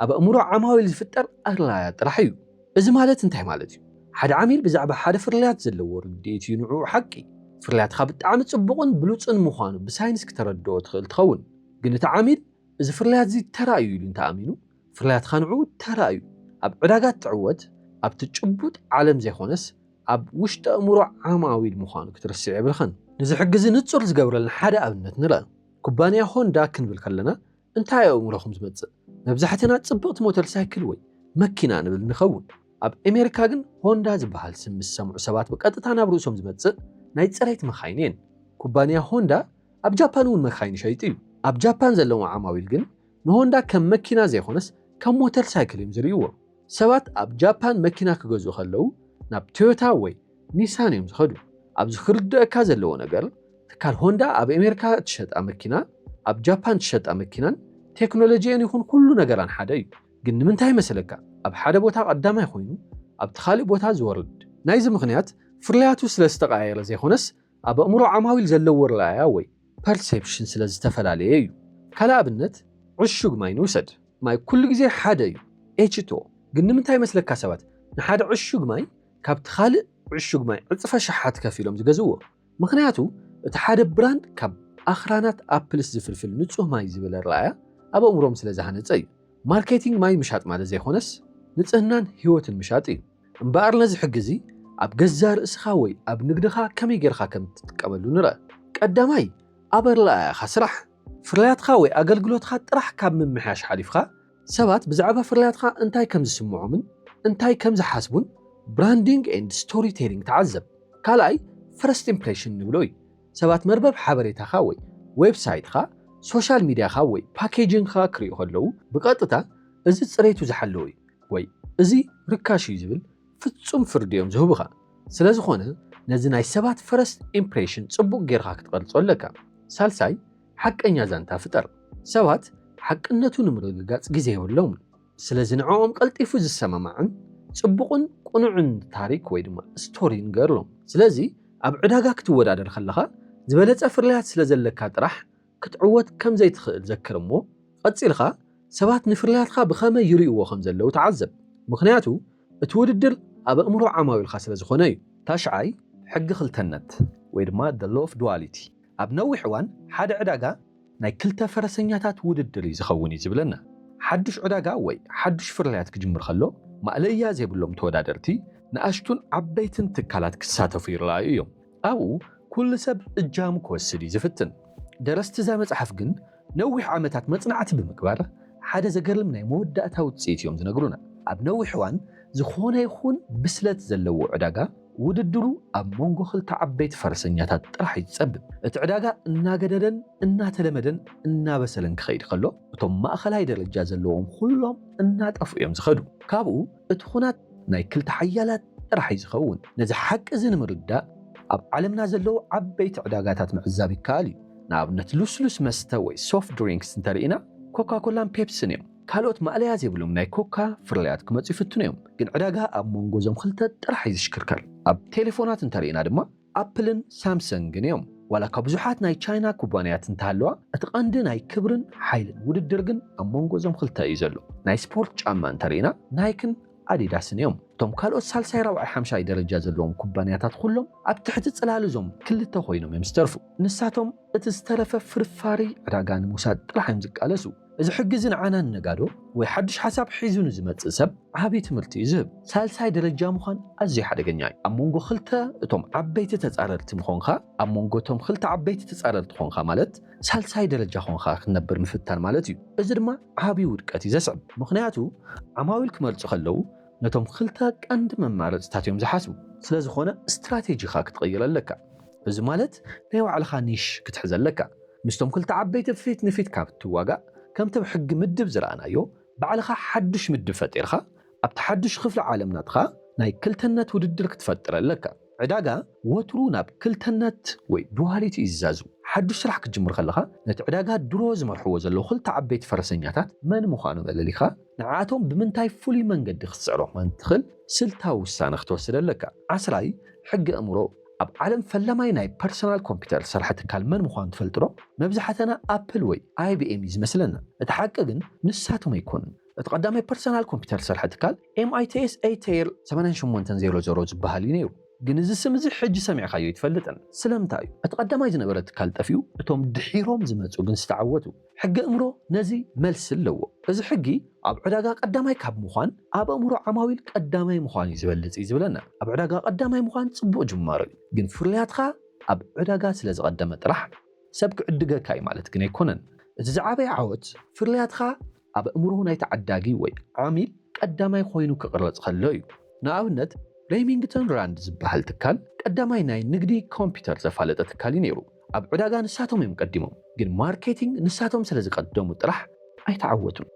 ኣብ ኣእምሮ ዓማዊል ዝፍጠር ኣረኣእያ ጥራሕ እዩ። እዚ ማለት እንታይ ማለት እዩ? ሓደ ዓሚል ብዛዕባ ሓደ ፍርያት ዘለዎ ርድኢት እዩ ንዕኡ ሓቂ። ፍርያትካ ብጣዕሚ ጽቡቕን ብሉጽን ምዃኑ ብሳይንስ ክተረድኦ ትኽእል ትኸውን። ግን እቲ ዓሚል እዚ ፍርያት'ዚ ተራ እዩ ኢሉ እንተኣሚኑ፣ ፍርያትካ ንዕኡ ተራ እዩ። ኣብ ዕዳጋ እትዕወት ኣብቲ ጭቡጥ ዓለም ዘይኮነስ ኣብ ውሽጢ ኣእምሮ ዓማዊል ምዃኑ ክትርስዕ የብልካን። ንዝሕግዚ ንጹር ዝገብረልና ሓደ ኣብነት ንርኣ። ኩባንያ ሆንዳ ክንብል ከለና እንታይ ኣብ ኣእምሮኹም ዝመጽእ? መብዛሕትና ጽብቕቲ ሞተር ሳይክል ወይ መኪና ንብል ንኸውን። ኣብ ኣሜሪካ ግን ሆንዳ ዝበሃል ስም ምስ ዝሰምዑ ሰባት ብቐጥታ ናብ ርእሶም ዝመጽእ ናይ ጽሬት መካይን እየን። ኩባንያ ሆንዳ ኣብ ጃፓን እውን መካይን ይሸይጥ እዩ። ኣብ ጃፓን ዘለዉ ዓማዊል ግን ንሆንዳ ከም መኪና ዘይኮነስ ከም ሞተር ሳይክል እዮም ዝርእይዎ። ሰባት ኣብ ጃፓን መኪና ክገዝኡ ከለዉ ናብ ቶዮታ ወይ ኒሳን እዮም ዝኸዱ። ኣብዚ ክርደኣካ ዘለዎ ነገር ትካል ሆንዳ ኣብ ኤሜርካ እትሸጣ መኪና ኣብ ጃፓን እትሸጣ መኪናን ቴክኖሎጂኤን ይኹን ኩሉ ነገራን ሓደ እዩ ግን ንምንታይ መሰለካ ኣብ ሓደ ቦታ ቀዳማይ ኾይኑ ኣብቲ ኻሊእ ቦታ ዝወርድ ናይዚ ምኽንያት ፍርያቱ ስለ ዝተቀያየረ ዘይኾነስ ኣብ ኣእምሮ ዓማዊል ዘለዎ ኣረኣእያ ወይ ፐርሴፕሽን ስለ ዝተፈላለየ እዩ ካልእ ኣብነት ዕሹግ ማይ ንውሰድ ማይ ኩሉ ግዜ ሓደ እዩ ኤችቱኦ ግን ንምንታይ መስለካ ሰባት ንሓደ ዕሹግ ማይ ካብቲ ካልእ ዕሹግ ማይ ዕጽፈ ኣሽሓት ከፊሎም ዝገዝእዎ። ምኽንያቱ እቲ ሓደ ብራንድ ካብ ኣኽራናት ኣፕልስ ዝፍልፍል ንጹህ ማይ ዝብል ኣረኣእያ ኣብ ኣእምሮኦም ስለ ዝሃነጸ እዩ። ማርኬቲንግ ማይ ምሻጥ ማለት ዘይኮነስ ንጽህናን ህይወትን ምሻጥ እዩ። እምበኣር ነዚ ሕጊ እዚ ኣብ ገዛእ ርእስኻ ወይ ኣብ ንግድኻ ከመይ ጌርካ ከም እትጥቀመሉ ንርኣ። ቀዳማይ ኣብ ኣረኣእያኻ ስራሕ። ፍርያትካ ወይ ኣገልግሎትካ ጥራሕ ካብ ምምሕያሽ ሓሊፍካ ሰባት ብዛዕባ ፍርያትካ እንታይ ከም ዝስምዖምን እንታይ ከም ዝሓስቡን ብራንዲንግ ኤንድ ስቶሪ ቴሊንግ ተዓዘብ። ካልኣይ ፈርስት ኢምፕሬሽን ንብሎ እዩ። ሰባት መርበብ ሓበሬታኻ ወይ ዌብሳይትኻ፣ ሶሻል ሚድያኻ ወይ ፓኬጂንግኻ ክሪኡ ከለዉ ብቐጥታ እዚ ፅሬቱ ዝሓለወ እዩ ወይ እዚ ርካሽ እዩ ዝብል ፍፁም ፍርዲ እዮም ዝህቡኻ። ስለዝኾነ ነዚ ናይ ሰባት ፈርስት ኢምፕሬሽን ፅቡቕ ገይርኻ ክትቐርፆ ኣለካ። ሳልሳይ ሓቀኛ ዛንታ ፍጠር። ሰባት ሓቅነቱ ንምርግጋጽ ግዜ የብሎምን፣ ስለዚ ንዕኦም ቀልጢፉ ዝሰማማዕን ጽቡቕን ቅኑዕን ታሪኽ ወይ ድማ ስቶሪ ንገርሎም። ስለዚ ኣብ ዕዳጋ ክትወዳደር ከለኻ ዝበለጸ ፍርያት ስለ ዘለካ ጥራሕ ክትዕወት ከም ዘይትኽእል ዘክር እሞ ቐጺልካ ሰባት ንፍርያትካ ብኸመይ ይርእይዎ ከም ዘለዉ ተዓዘብ። ምኽንያቱ እቲ ውድድር ኣብ ኣእምሮ ዓማዊልካ ስለ ዝኾነ እዩ። ታሽዓይ ሕጊ ክልተነት ወይ ድማ the law of duality ኣብ ነዊሕ እዋን ሓደ ዕዳጋ ናይ ክልተ ፈረሰኛታት ውድድር እዩ ዝኸውን እዩ ዝብለና። ሓዱሽ ዕዳጋ ወይ ሓዱሽ ፍርያት ክጅምር ከሎ ማእለያ ዘይብሎም ተወዳደርቲ፣ ንኣሽቱን ዓበይትን ትካላት ክሳተፉ ይረኣዩ እዮም። ኣብኡ ኩሉ ሰብ እጃሙ ክወስድ እዩ ዝፍትን። ደረስቲ እዛ መጽሓፍ ግን ነዊሕ ዓመታት መጽናዕቲ ብምግባር ሓደ ዘገርም ናይ መወዳእታ ውጽኢት እዮም ዝነግሩና። ኣብ ነዊሕ እዋን ዝኾነ ይኹን ብስለት ዘለዎ ዕዳጋ ውድድሩ ኣብ መንጎ ክልተ ዓበይቲ ፈረሰኛታት ጥራሕ እዩ ዝጸብብ። እቲ ዕዳጋ እናገደደን እናተለመደን እናበሰለን ክኸይድ ከሎ እቶም ማእኸላይ ደረጃ ዘለዎም ኹሎም እናጠፍኡ እዮም ዝኸዱ። ካብኡ እቲ ኹናት ናይ ክልተ ሓያላት ጥራሕ እዩ ዝኸውን። ነዚ ሓቂ እዚ ንምርዳእ ኣብ ዓለምና ዘለዉ ዓበይቲ ዕዳጋታት ምዕዛብ ይከኣል እዩ። ንኣብነት ልስሉስ መስተ ወይ ሶፍት ድሪንክስ እንተርኢና ኮካኮላን ፔፕስን እዮም። ካልኦት ማእለያ ዘይብሎም ናይ ኮካ ፍርያት ክመጹ ይፍትኑ እዮም፣ ግን ዕዳጋ ኣብ ሞንጎ እዞም ክልተ ጥራሕ እዩ ዝሽክርከር። ኣብ ቴሌፎናት እንተርኢና ድማ ኣፕልን ሳምሰንግን እዮም። ዋላ እኳ ብዙሓት ናይ ቻይና ኩባንያት እንተሃለዋ፣ እቲ ቀንዲ ናይ ክብርን ሓይልን ውድድር ግን ኣብ መንጎ እዞም ክልተ እዩ ዘሎ። ናይ ስፖርት ጫማ እንተርኢና ናይክን ኣዲዳስን እዮም። እቶም ካልኦት ሳልሳይ ራብዓይ ሓምሻይ ደረጃ ዘለዎም ኩባንያታት ኹሎም ኣብ ትሕቲ ጽላል እዞም ክልተ ኮይኖም እዮም ዝተርፉ። ንሳቶም እቲ ዝተረፈ ፍርፋሪ ዕዳጋ ንምውሳድ ጥራሕ እዮም ዝቃለሱ። እዚ ሕጊ እዚ ንዓና ንነጋዶ ወይ ሓድሽ ሓሳብ ሒዙ ንዝመጽእ ሰብ ዓቢ ትምህርቲ እዩ ዝህብ። ሳልሳይ ደረጃ ምዃን ኣዝዩ ሓደገኛ እዩ። ኣብ መንጎ ክልተ እቶም ዓበይቲ ተጻረርቲ ምኾንካ፣ ኣብ መንጎ እቶም ክልተ ዓበይቲ ተጻረርቲ ኾንካ ማለት ሳልሳይ ደረጃ ኾንካ ክትነብር ምፍታን ማለት እዩ። እዚ ድማ ዓቢ ውድቀት እዩ ዘስዕብ። ምኽንያቱ ዓማዊል ክመርጹ ከለዉ ነቶም ክልተ ቀንዲ መማረጽታት እዮም ዝሓስቡ። ስለዝኾነ ስትራቴጂኻ ክትቕይር ኣለካ። እዚ ማለት ናይ ባዕልኻ ኒሽ ክትሕዝ ኣለካ። ምስቶም ክልተ ዓበይቲ ፊት ንፊት ካብ እትዋጋእ፣ ከምቲ ብ ሕጊ ምድብ ዝረኣናዮ፣ ባዕልኻ ሓዱሽ ምድብ ፈጢርካ፣ ኣብቲ ሓዱሽ ክፍሊ ዓለም ናትኻ ናይ ክልተነት ውድድር ክትፈጥር ኣለካ። ዕዳጋ ወትሩ ናብ ክልተነት ወይ ዱዋሊቲ እዩ ዝዛዙ። ሓዱሽ ስራሕ ክትጅምር ከለኻ፣ ነቲ ዕዳጋ ድሮ ዝመርሕዎ ዘለዉ ክልተ ዓበይቲ ፈረሰኛታት መን ምዃኖም ኣለሊኻ፣ ንዓኣቶም ብምንታይ ፍሉይ መንገዲ ክትስዕሮም ከም እትኽል ስልታዊ ውሳነ ክትወስድ ኣለካ። ዓስራይ፣ ሕጊ ኣእምሮ ኣብ ዓለም ፈላማይ ናይ ፐርሰናል ኮምፒተር ዝሰርሐ ትካል መን ምዃኑ ትፈልጥዶ? መብዛሕተና ኣፕል ወይ ኣይቢኤም እዩ ዝመስለና። እቲ ሓቂ ግን ንሳቶም ኣይኮኑን። እቲ ቀዳማይ ፐርሰናል ኮምፒተር ዝሰርሐ ትካል MITS Ateir ሰማንያን ሸሞንተን ዜሮ ዜሮ ዝበሃል እዩ ነይሩ። ግን እዚ ስም እዚ ሕጂ ሰሚዕካዮ ኣይትፈልጥን። ስለምንታይ እዩ እቲ ቀዳማይ ዝነበረ ትካል ጠፊኡ እቶም ድሒሮም ዝመጹ ግን ዝተዓወቱ? ሕገ እምሮ ነዚ መልሲ ኣለዎ። እዚ ሕጊ ኣብ ዕዳጋ ቀዳማይ ካብ ምዃን ኣብ ኣእምሮ ዓማዊል ቀዳማይ ምዃን እዩ ዝበልጽ እዩ ዝብለና። ኣብ ዕዳጋ ቀዳማይ ምዃን ጽቡቕ ጅማሮ እዩ፣ ግን ፍርያትካ ኣብ ዕዳጋ ስለ ዝቐደመ ጥራሕ ሰብ ክዕድገካ እዩ ማለት ግን ኣይኮነን። እቲ ዝዓበየ ዓወት ፍርያትካ ኣብ ኣእምሮ ናይቲ ዓዳጊ ወይ ዓሚል ቀዳማይ ኮይኑ ክቕረጽ ከሎ እዩ። ንኣብነት ሬሚንግተን ራንድ ዝበሃል ትካል ቀዳማይ ናይ ንግዲ ኮምፒተር ዘፋለጠ ትካል እዩ ነይሩ። ኣብ ዕዳጋ ንሳቶም እዮም ቀዲሞም ግን ማርኬቲንግ ንሳቶም ስለ ዝቀደሙ ጥራሕ ኣይተዓወቱን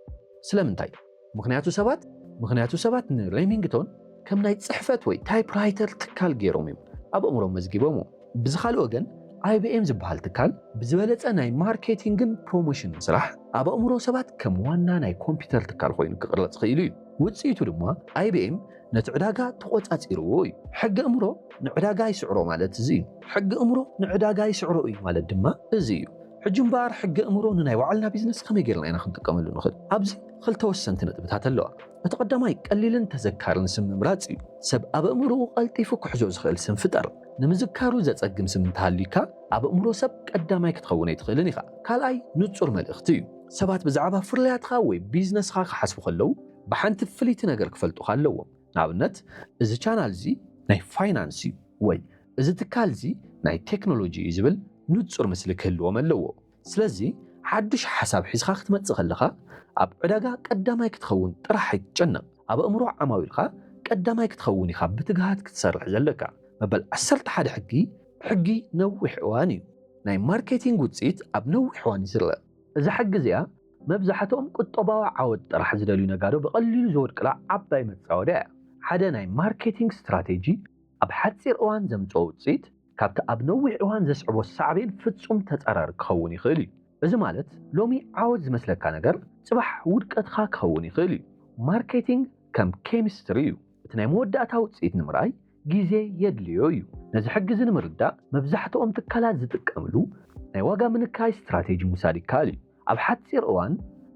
ስለምንታይ ምኽንያቱ ሰባት ምኽንያቱ ሰባት ን ሬሚንግቶን ከም ናይ ጽሕፈት ወይ ታይፕ ራይተር ትካል ጌሮም እዮም ኣብ ኣእምሮም መዝጊቦምዎ ብዝኻልእ ወገን IBM ዝበሃል ትካል ብዝበለጸ ናይ ማርኬቲንግን ፕሮሞሽንን ስራሕ ኣብ ኣእምሮ ሰባት ከም ዋና ናይ ኮምፒተር ትካል ኮይኑ ክቅረጽ ኽኢሉ እዩ ውጽኢቱ ድማ IBM ነቲ ዕዳጋ ተቖጻጺርዎ እዩ። ሕጊ እምሮ ንዕዳጋ ይስዕሮ ማለት እዚ እዩ። ሕጊ እምሮ ንዕዳጋ ይስዕሮ እዩ ማለት ድማ እዚ እዩ። ሕጂ እምበኣር ሕጊ እምሮ ንናይ ባዕልና ቢዝነስ ከመይ ጌርና ኢና ክንጥቀመሉ ንኽእል? ኣብዚ ኽልተ ወሰንቲ ነጥብታት ኣለዋ። እቲ ቐዳማይ ቀሊልን ተዘካርን ስም ምምራጽ እዩ። ሰብ ኣብ ኣእምሮኡ ቐልጢፉ ክሕዞ ዝኽእል ስም ፍጠር። ንምዝካሩ ዘጸግም ስም እንተሃልዩካ ኣብ ኣእምሮ ሰብ ቀዳማይ ክትኸውን ኣይትኽእልን ኢኻ። ካልኣይ ንጹር መልእኽቲ እዩ። ሰባት ብዛዕባ ፍርያትካ ወይ ቢዝነስኻ ክሓስቡ ኸለዉ፣ ብሓንቲ ፍልይቲ ነገር ክፈልጡኻ ኣለዎም ንኣብነት እዚ ቻናል እዚ ናይ ፋይናንስ እዩ ወይ እዚ ትካል እዚ ናይ ቴክኖሎጂ እዩ ዝብል ንጹር ምስሊ ክህልዎም ኣለዎ ስለዚ ሓዱሽ ሓሳብ ሒዝኻ ክትመጽእ ከለኻ ኣብ ዕዳጋ ቀዳማይ ክትኸውን ጥራሕ ኣይትጨነቕ ኣብ ኣእምሮ ዓማዊልካ ቀዳማይ ክትኸውን ኢኻ ብትግሃት ክትሰርሕ ዘለካ መበል ዓሰርተ ሓደ ሕጊ ሕጊ ነዊሕ እዋን እዩ ናይ ማርኬቲንግ ውጽኢት ኣብ ነዊሕ እዋን እዩ ዝርኣ እዛ ሕጊ እዚኣ መብዛሕትኦም ቁጠባዊ ዓወት ጥራሕ ዝደልዩ ነጋዶ ብቐሊሉ ዝወድቅላ ዓባይ መጻወድያ እያ። ሓደ ናይ ማርኬቲንግ ስትራቴጂ ኣብ ሓጺር እዋን ዘምጽኦ ውጽኢት ካብቲ ኣብ ነዊሕ እዋን ዘስዕቦ ሳዕቤን ፍጹም ተጻራሪ ክኸውን ይኽእል እዩ። እዚ ማለት ሎሚ ዓወት ዝመስለካ ነገር ጽባሕ ውድቀትካ ክኸውን ይኽእል እዩ። ማርኬቲንግ ከም ኬሚስትሪ እዩ፣ እቲ ናይ መወዳእታ ውጽኢት ንምርኣይ ግዜ የድልዮ እዩ። ነዚ ሕጊ እዚ ንምርዳእ መብዛሕትኦም ትካላት ዝጥቀምሉ ናይ ዋጋ ምንካይ ስትራቴጂ ምውሳድ ይከኣል እዩ። ኣብ ሓጺር እዋን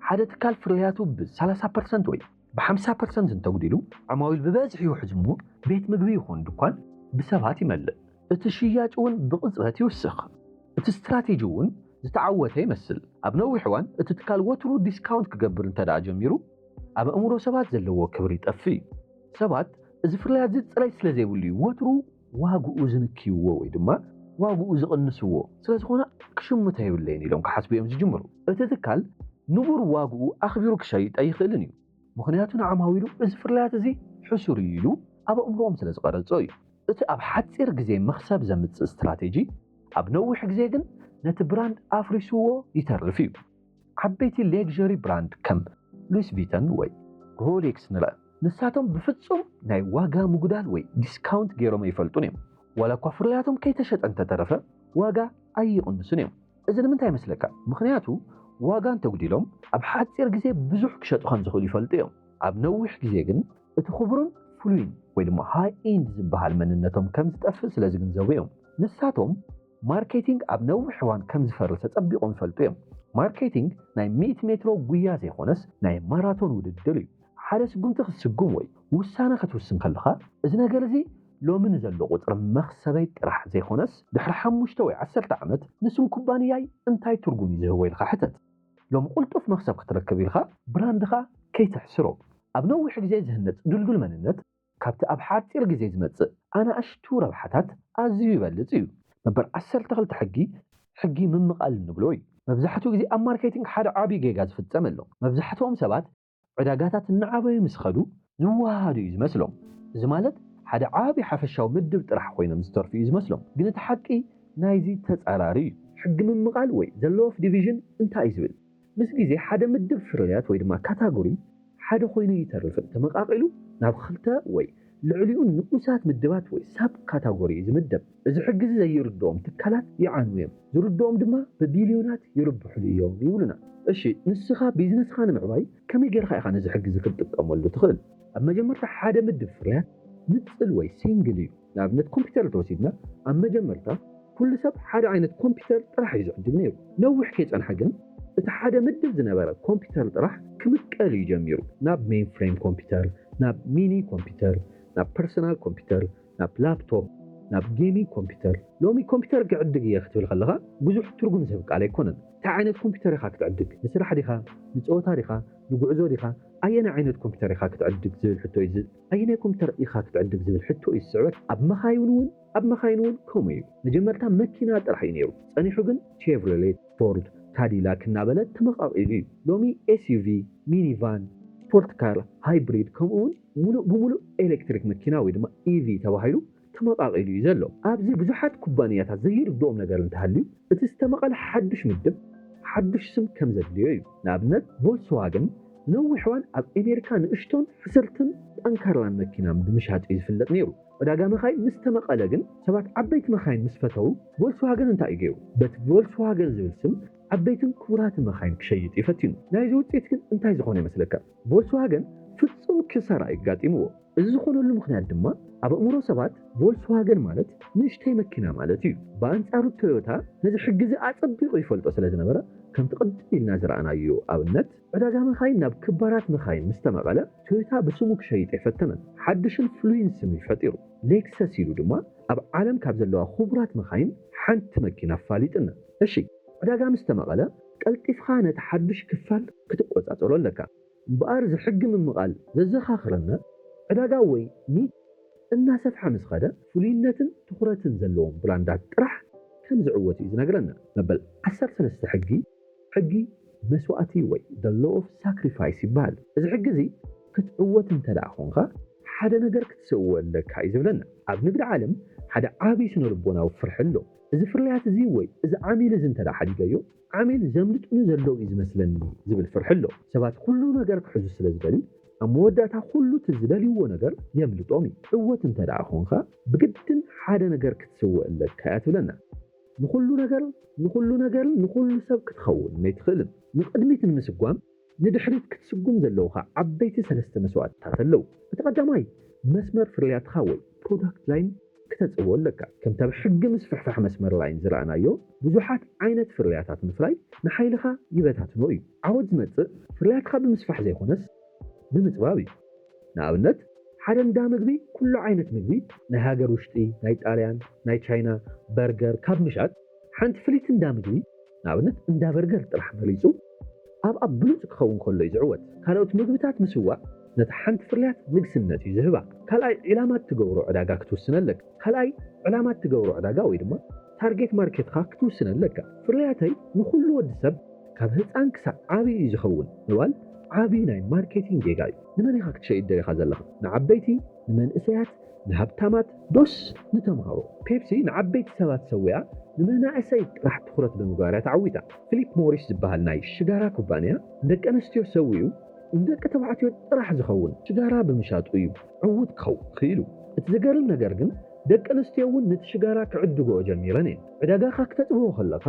ሓደ ትካል ፍርያቱ ብ ሰላሳ ፐርሰንት ወይ ብ ሓምሳ ፐርሰንት እንተጉዲሉ፣ ዓማዊል ብበዝሒ ይውሕዙ እሞ ቤት ምግቢ ይኹን ድኳን ብሰባት ይመልእ። እቲ ሽያጭ እውን ብቕጽበት ይውስኽ። እቲ ስትራቴጂ እውን ዝተዓወተ ይመስል። ኣብ ነዊሕ እዋን እቲ ትካል ወትሩ ዲስካውንት ክገብር እንተድኣ ጀሚሩ፣ ኣብ ኣእምሮ ሰባት ዘለዎ ክብሪ ይጠፍእ እዩ። ሰባት እዚ ፍርያትዚ ጽሬት ስለ ዘይብሉ'ዩ ወትሩ ዋግኡ ዝንክይዎ ወይ ድማ ዋግኡ ዝቕንስዎ፣ ስለ ዝኾነ ክሽምቶ የብለይን ኢሎም ክሓስቡ እዮም ዝጅምሩ። እቲ ትካል ንቡር ዋግኡ ኣኽቢሩ ክሸይጥ ኣይኽእልን እዩ፣ ምኽንያቱ ንዓማዊሉ እዚ ፍርያትዚ ሕሱር እዩ ኢሉ ኣብ ኣእምሮኦም ስለ ዝቐረጾ እዩ። እቲ ኣብ ሓጺር ግዜ መኽሰብ ዘምጽእ ስትራቴጂ ኣብ ነዊሕ ግዜ ግን ነቲ ብራንድ ኣፍሪሱዎ ይተርፍ እዩ። ዓበይቲ ሌክዠሪ ብራንድ ከም ሉዊስ ቪተን ወይ ሮሌክስ ንርኣ፣ ንሳቶም ብፍጹም ናይ ዋጋ ምጕዳል ወይ ዲስካውንት ገይሮም ኣይፈልጡን እዮም። ዋላ እኳ ፍርያቶም ከይተሸጠ እንተ ተረፈ፣ ዋጋ ኣይቕንሱን እዮም። እዚ ንምንታይ ይመስለካ? ምኽንያቱ ዋጋ እንተ ኣጕዲሎም፣ ኣብ ሓጺር ግዜ ብዙሕ ክሸጡ ከም ዝኽእሉ ይፈልጡ እዮም። ኣብ ነዊሕ ግዜ ግን እቲ ኽቡርን ፍሉይን ወይ ድማ ሃይ-ኢንድ ዝበሃል መንነቶም ከም ዝጠፍእ ስለ ዝግንዘቡ እዮም። ንሳቶም። ማርኬቲንግ ኣብ ነዊሕ እዋን ከም ዝፈርስ ኣጸቢቖም ይፈልጡ እዮም። ማርኬቲንግ ናይ ሚእቲ ሜትሮ ጉያ ዘይኮነስ ናይ ማራቶን ውድድር እዩ። ሓደ ስጉምቲ ክትስጉም ወይ ውሳነ ከትውስን ከለኻ እዚ ነገር እዚ ሎሚ ንዘሎ ቁጽሪ መኽሰበይ ጥራሕ ዘይኮነስ ድሕሪ ሓሙሽተ ወይ ዓሰርተ ዓመት ንስም ኩባንያይ እንታይ ትርጉም እዩ ዝህቦ ኢልካ ሕተት። ሎሚ ቁልጡፍ መኽሰብ ክትረክብ ኢልካ ብራንድኻ ከይተሕስሮ። ኣብ ነዊሕ ግዜ ዝህነጽ ድልዱል መንነት። ካብቲ ኣብ ሓጺር ግዜ ዝመጽእ ኣናእሽቱ ረብሓታት ኣዝዩ ይበልጽ እዩ። መበል ዓሰርተ ክልተ ሕጊ፣ ሕጊ ምምቓል እንብሎ እዩ። መብዛሕትኡ ግዜ ኣብ ማርኬቲንግ ሓደ ዓቢ ጌጋ ዝፍጸም ኣሎ። መብዛሕትኦም ሰባት ዕዳጋታት እናዓበዩ ምስ ኸዱ ዝወሃሃዱ እዩ ዝመስሎም። እዚ ማለት ሓደ ዓቢ ሓፈሻዊ ምድብ ጥራሕ ኮይኖም ዝተርፉ እዩ ዝመስሎም። ግን እቲ ሓቂ ናይዚ ተጻራሪ እዩ። ሕጊ ምምቓል ወይ ዘ ሎው ኦፍ ዲቪዥን እንታይ እዩ ዝብል? ምስ ግዜ ሓደ ምድብ ፍርያት ወይ ድማ ካታጎሪ ሓደ ኮይኑ ይተርፍን ተመቓቒሉ ናብ ኽልተ ወይ ልዕሊኡ ንኡሳት ምድባት ወይ ሳብ ካታጎሪ ዝምደብ። እዚ ሕጊዚ ዘይርድኦም ትካላት ይዓንዉ እዮም ዝርድኦም ድማ ብቢልዮናት ይርብሕሉ እዮም ይብሉና። እሺ ንስኻ ቢዝነስኻ ንምዕባይ ከመይ ጌርኻ ኢኻ ነዚ ሕጊዚ ክትጥቀመሉ ትኽእል? ኣብ መጀመርታ ሓደ ምድብ ፍርያት ንጽል ወይ ሲንግል እዩ። ንኣብነት ኮምፒተር እንተወሲድና ኣብ መጀመርታ ኩሉ ሰብ ሓደ ዓይነት ኮምፒተር ጥራሕ እዩ ዝዕድግ ነይሩ። ነዊሕ ከይፀንሐ ግን እቲ ሓደ ምድብ ዝነበረ ኮምፒተር ጥራሕ ክምቀል እዩ ጀሚሩ። ናብ ሜይን ፍሬም ኮምፒተር፣ ናብ ሚኒ ኮምፒተር፣ ናብ ፐርሰናል ኮምፒተር፣ ናብ ላፕቶፕ፣ ናብ ጌሚንግ ኮምፒተር። ሎሚ ኮምፒተር ክዕድግ እየ ክትብል ከለኻ ብዙሕ ትርጉም ዝህብ ቃል ኣይኮነን። ታይ ዓይነት ኮምፒተር ኢኻ ክትዕድግ? ንስራሕ ዲኻ? ንፀወታ ዲኻ? ንጉዕዞ ዲኻ? ኣየናይ ዓይነት ኮምፒተር ኢኻ ክትዕድግ ዝብል ሕቶ እዩ ኣየናይ ኮምፒተር ኢኻ ክትዕድግ ዝብል ሕቶ እዩ ዝስዕበካ። ኣብ መካይን እውን ኣብ መካይን እውን ከምኡ እዩ። መጀመርታ መኪና ጥራሕ እዩ ነይሩ። ጸኒሑ ግን ቼቭሮሌት፣ ፎርድ፣ ካዲላክ እናበለ ተመቓቒሉ እዩ። ሎሚ ኤስዩቪ፣ ሚኒቫን፣ ስፖርት ካር፣ ሃይብሪድ ከምኡ እውን ሙሉእ ብሙሉእ ኤሌክትሪክ መኪና ወይ ድማ ኢቪ ተባሂሉ ተመቓቒሉ እዩ ዘሎ። ኣብዚ ብዙሓት ኩባንያታት ዘይርድኦም ነገር እንተሃልዩ፣ እቲ ዝተመቐለ ሓዱሽ ምድብ ሓዱሽ ስም ከም ዘድልዮ እዩ። ንኣብነት ቮልስዋገን ንነዊሕ እዋን ኣብ ኣሜሪካ ንእሽቶን ሕስርትን ጠንካራን መኪና ብምሻጥ እዩ ዝፍለጥ ነይሩ። ዕዳጋ መካይን ምስ ተመቐለ ግን ሰባት ዓበይቲ መካይን ምስ ፈተዉ ቮልስዋገን እንታይ እዩ ገይሩ? በቲ ቮልስዋገን ዝብል ስም ዓበይትን ክቡራትን መካይን ክሸይጥ እዩ ፈቲኑ። ናይዚ ውፅኢት ግን እንታይ ዝኾነ ይመስለካ? ቮልስዋገን ፍጹም ክሳራ እዩ ኣጋጢምዎ። እዚ ዝኾነሉ ምኽንያት ድማ ኣብ ኣእምሮ ሰባት ቮልስዋገን ማለት ንእሽተይ መኪና ማለት እዩ። ብኣንጻሩ ቶዮታ ነዚ ሕጊ'ዚ ኣጸቢቑ ይፈልጦ ስለ ዝነበረ፣ ከምቲ ቅድም ኢልና ዝረኣናዮ ኣብነት፣ ዕዳጋ መካይን ናብ ክባራት መካይን ምስ ተመቐለ፣ ቶዮታ ብስሙ ክሸይጥ ኣይፈተነን። ሓድሽን ፍሉይን ስም እዩ ፈጢሩ። ሌክሰስ ኢሉ ድማ ኣብ ዓለም ካብ ዘለዋ ክቡራት መካይን ሓንቲ መኪና ኣፋሊጥና። እሺ ዕዳጋ ምስ ተመቐለ፣ ቀልጢፍካ ነቲ ሓዱሽ ክፋል ክትቆጻጸሮ ኣለካ። እምበኣር እዚ ሕጊ ምምቓል ዘዘኻኽረና፣ ዕዳጋ ወይ ኒች እናሰፍሐ ምስ ኸደ፣ ፍሉይነትን ትኹረትን ዘለዎም ብራንዳት ጥራሕ ከም ዝዕወቱ እዩ ዝነግረና። መበል ዓሰርተ ሰለስተ ሕጊ፣ ሕጊ መስዋእቲ ወይ The Law of Sacrifice ይበሃል። እዚ ሕጊ እዚ ክትዕወት እንተድኣ ኾንካ ሓደ ነገር ክትሰእዎ ኣለካ እዩ ዝብለና። ኣብ ንግዲ ዓለም ሓደ ዓቢ ስነ-ልቦናዊ ፍርሒ ኣሎ። እዚ ፍርያት እዚ ወይ እዚ ዓሚል እዚ እንተድኣ ሓዲገዮ፣ ዓሚል ዘምልጡኒ ዘለዉ እዩ ዝመስለኒ ዝብል ፍርሒ ኣሎ። ሰባት ኩሉ ነገር ክሕዙ ስለ ዝደልዩ፣ ኣብ መወዳእታ ኩሉ እቲ ዝደልዩዎ ነገር የምልጦም እዩ። ዕወት እንተድኣ ኾንካ፣ ብግድን ሓደ ነገር ክትስውእ ኣለካ እያ ትብለና። ንኹሉ ነገር ንኹሉ ነገርን ንኹሉ ሰብ ክትኸውን ነይትኽእልን። ንቕድሚት ንምስጓም ንድሕሪት ክትስጉም ዘለዉኻ ዓበይቲ ሰለስተ መስዋእትታት ኣለዉ። እቲ ቀዳማይ፣ መስመር ፍርያትኻ ወይ ፕሮዳክት ላይን ክተጽብቦ ኣለካ። ከምቲ ኣብ ሕጊ ምስፍሕፋሕ መስመር ላይን ዝረኣናዮ፣ ብዙሓት ዓይነት ፍርያታት ምፍራይ ንሓይልኻ ይበታትኖ እዩ። ዓወት ዝመጽእ ፍርያትኻ ብምስፋሕ ዘይኮነስ ብምጽባብ እዩ። ንኣብነት፣ ሓደ እንዳ ምግቢ ኩሉ ዓይነት ምግቢ፣ ናይ ሃገር ውሽጢ፣ ናይ ጣልያን፣ ናይ ቻይና፣ በርገር፣ ካብ ምሻጥ፣ ሓንቲ ፍልይቲ እንዳ ምግቢ፣ ንኣብነት እንዳ በርገር ጥራሕ መሪጹ ኣብ ኣብ ብሉጽ ክኸውን ከሎ'ዩ ዝዕወት። ካልኦት ምግብታት ምስዋእ ነታ ሓንቲ ፍርያት ንግስነት'ዩ ዝህባ። ካልኣይ ዒላማ እትገብሮ ዕዳጋ ክትውስን ኣለካ። ካልኣይ ዕላማ እትገብሮ ዕዳጋ ወይ ድማ ታርጌት ማርኬትኻ ክትውስን ኣለካ። ፍርያተይ ንኹሉ ወዲ ሰብ ካብ ህጻን ክሳዕ ዓቢ እዩ ዝኸውን ምባል ዓቢ ናይ ማርኬቲንግ ጌጋ'ዩ። ንመን ኢኻ ክትሸይጥ ደሊኻ ዘለኻ? ንዓበይቲ? ንመንእሰያት? ንሃብታማት ዶስ ንተምሃሮ? ፔፕሲ ንዓበይቲ ሰባት ሰዊኣ ንመናእሰይ ጥራሕ ትኹረት ብምግባር እያ ተዓዊታ። ፊሊፕ ሞሪስ ዝበሃል ናይ ሽጋራ ኩባንያ ንደቂ ኣንስትዮ ሰዊኡ ንደቂ ተባዕትዮ ጥራሕ ዝኸውን ሽጋራ ብምሻጡ እዩ ዕዉት ክኸውን ክኢሉ። እቲ ዘገርም ነገር ግን ደቂ ኣንስትዮ እውን ነቲ ሽጋራ ክዕድግኦ ጀሚረን እየን። ዕዳጋኻ ክተጥብቦ ከለኻ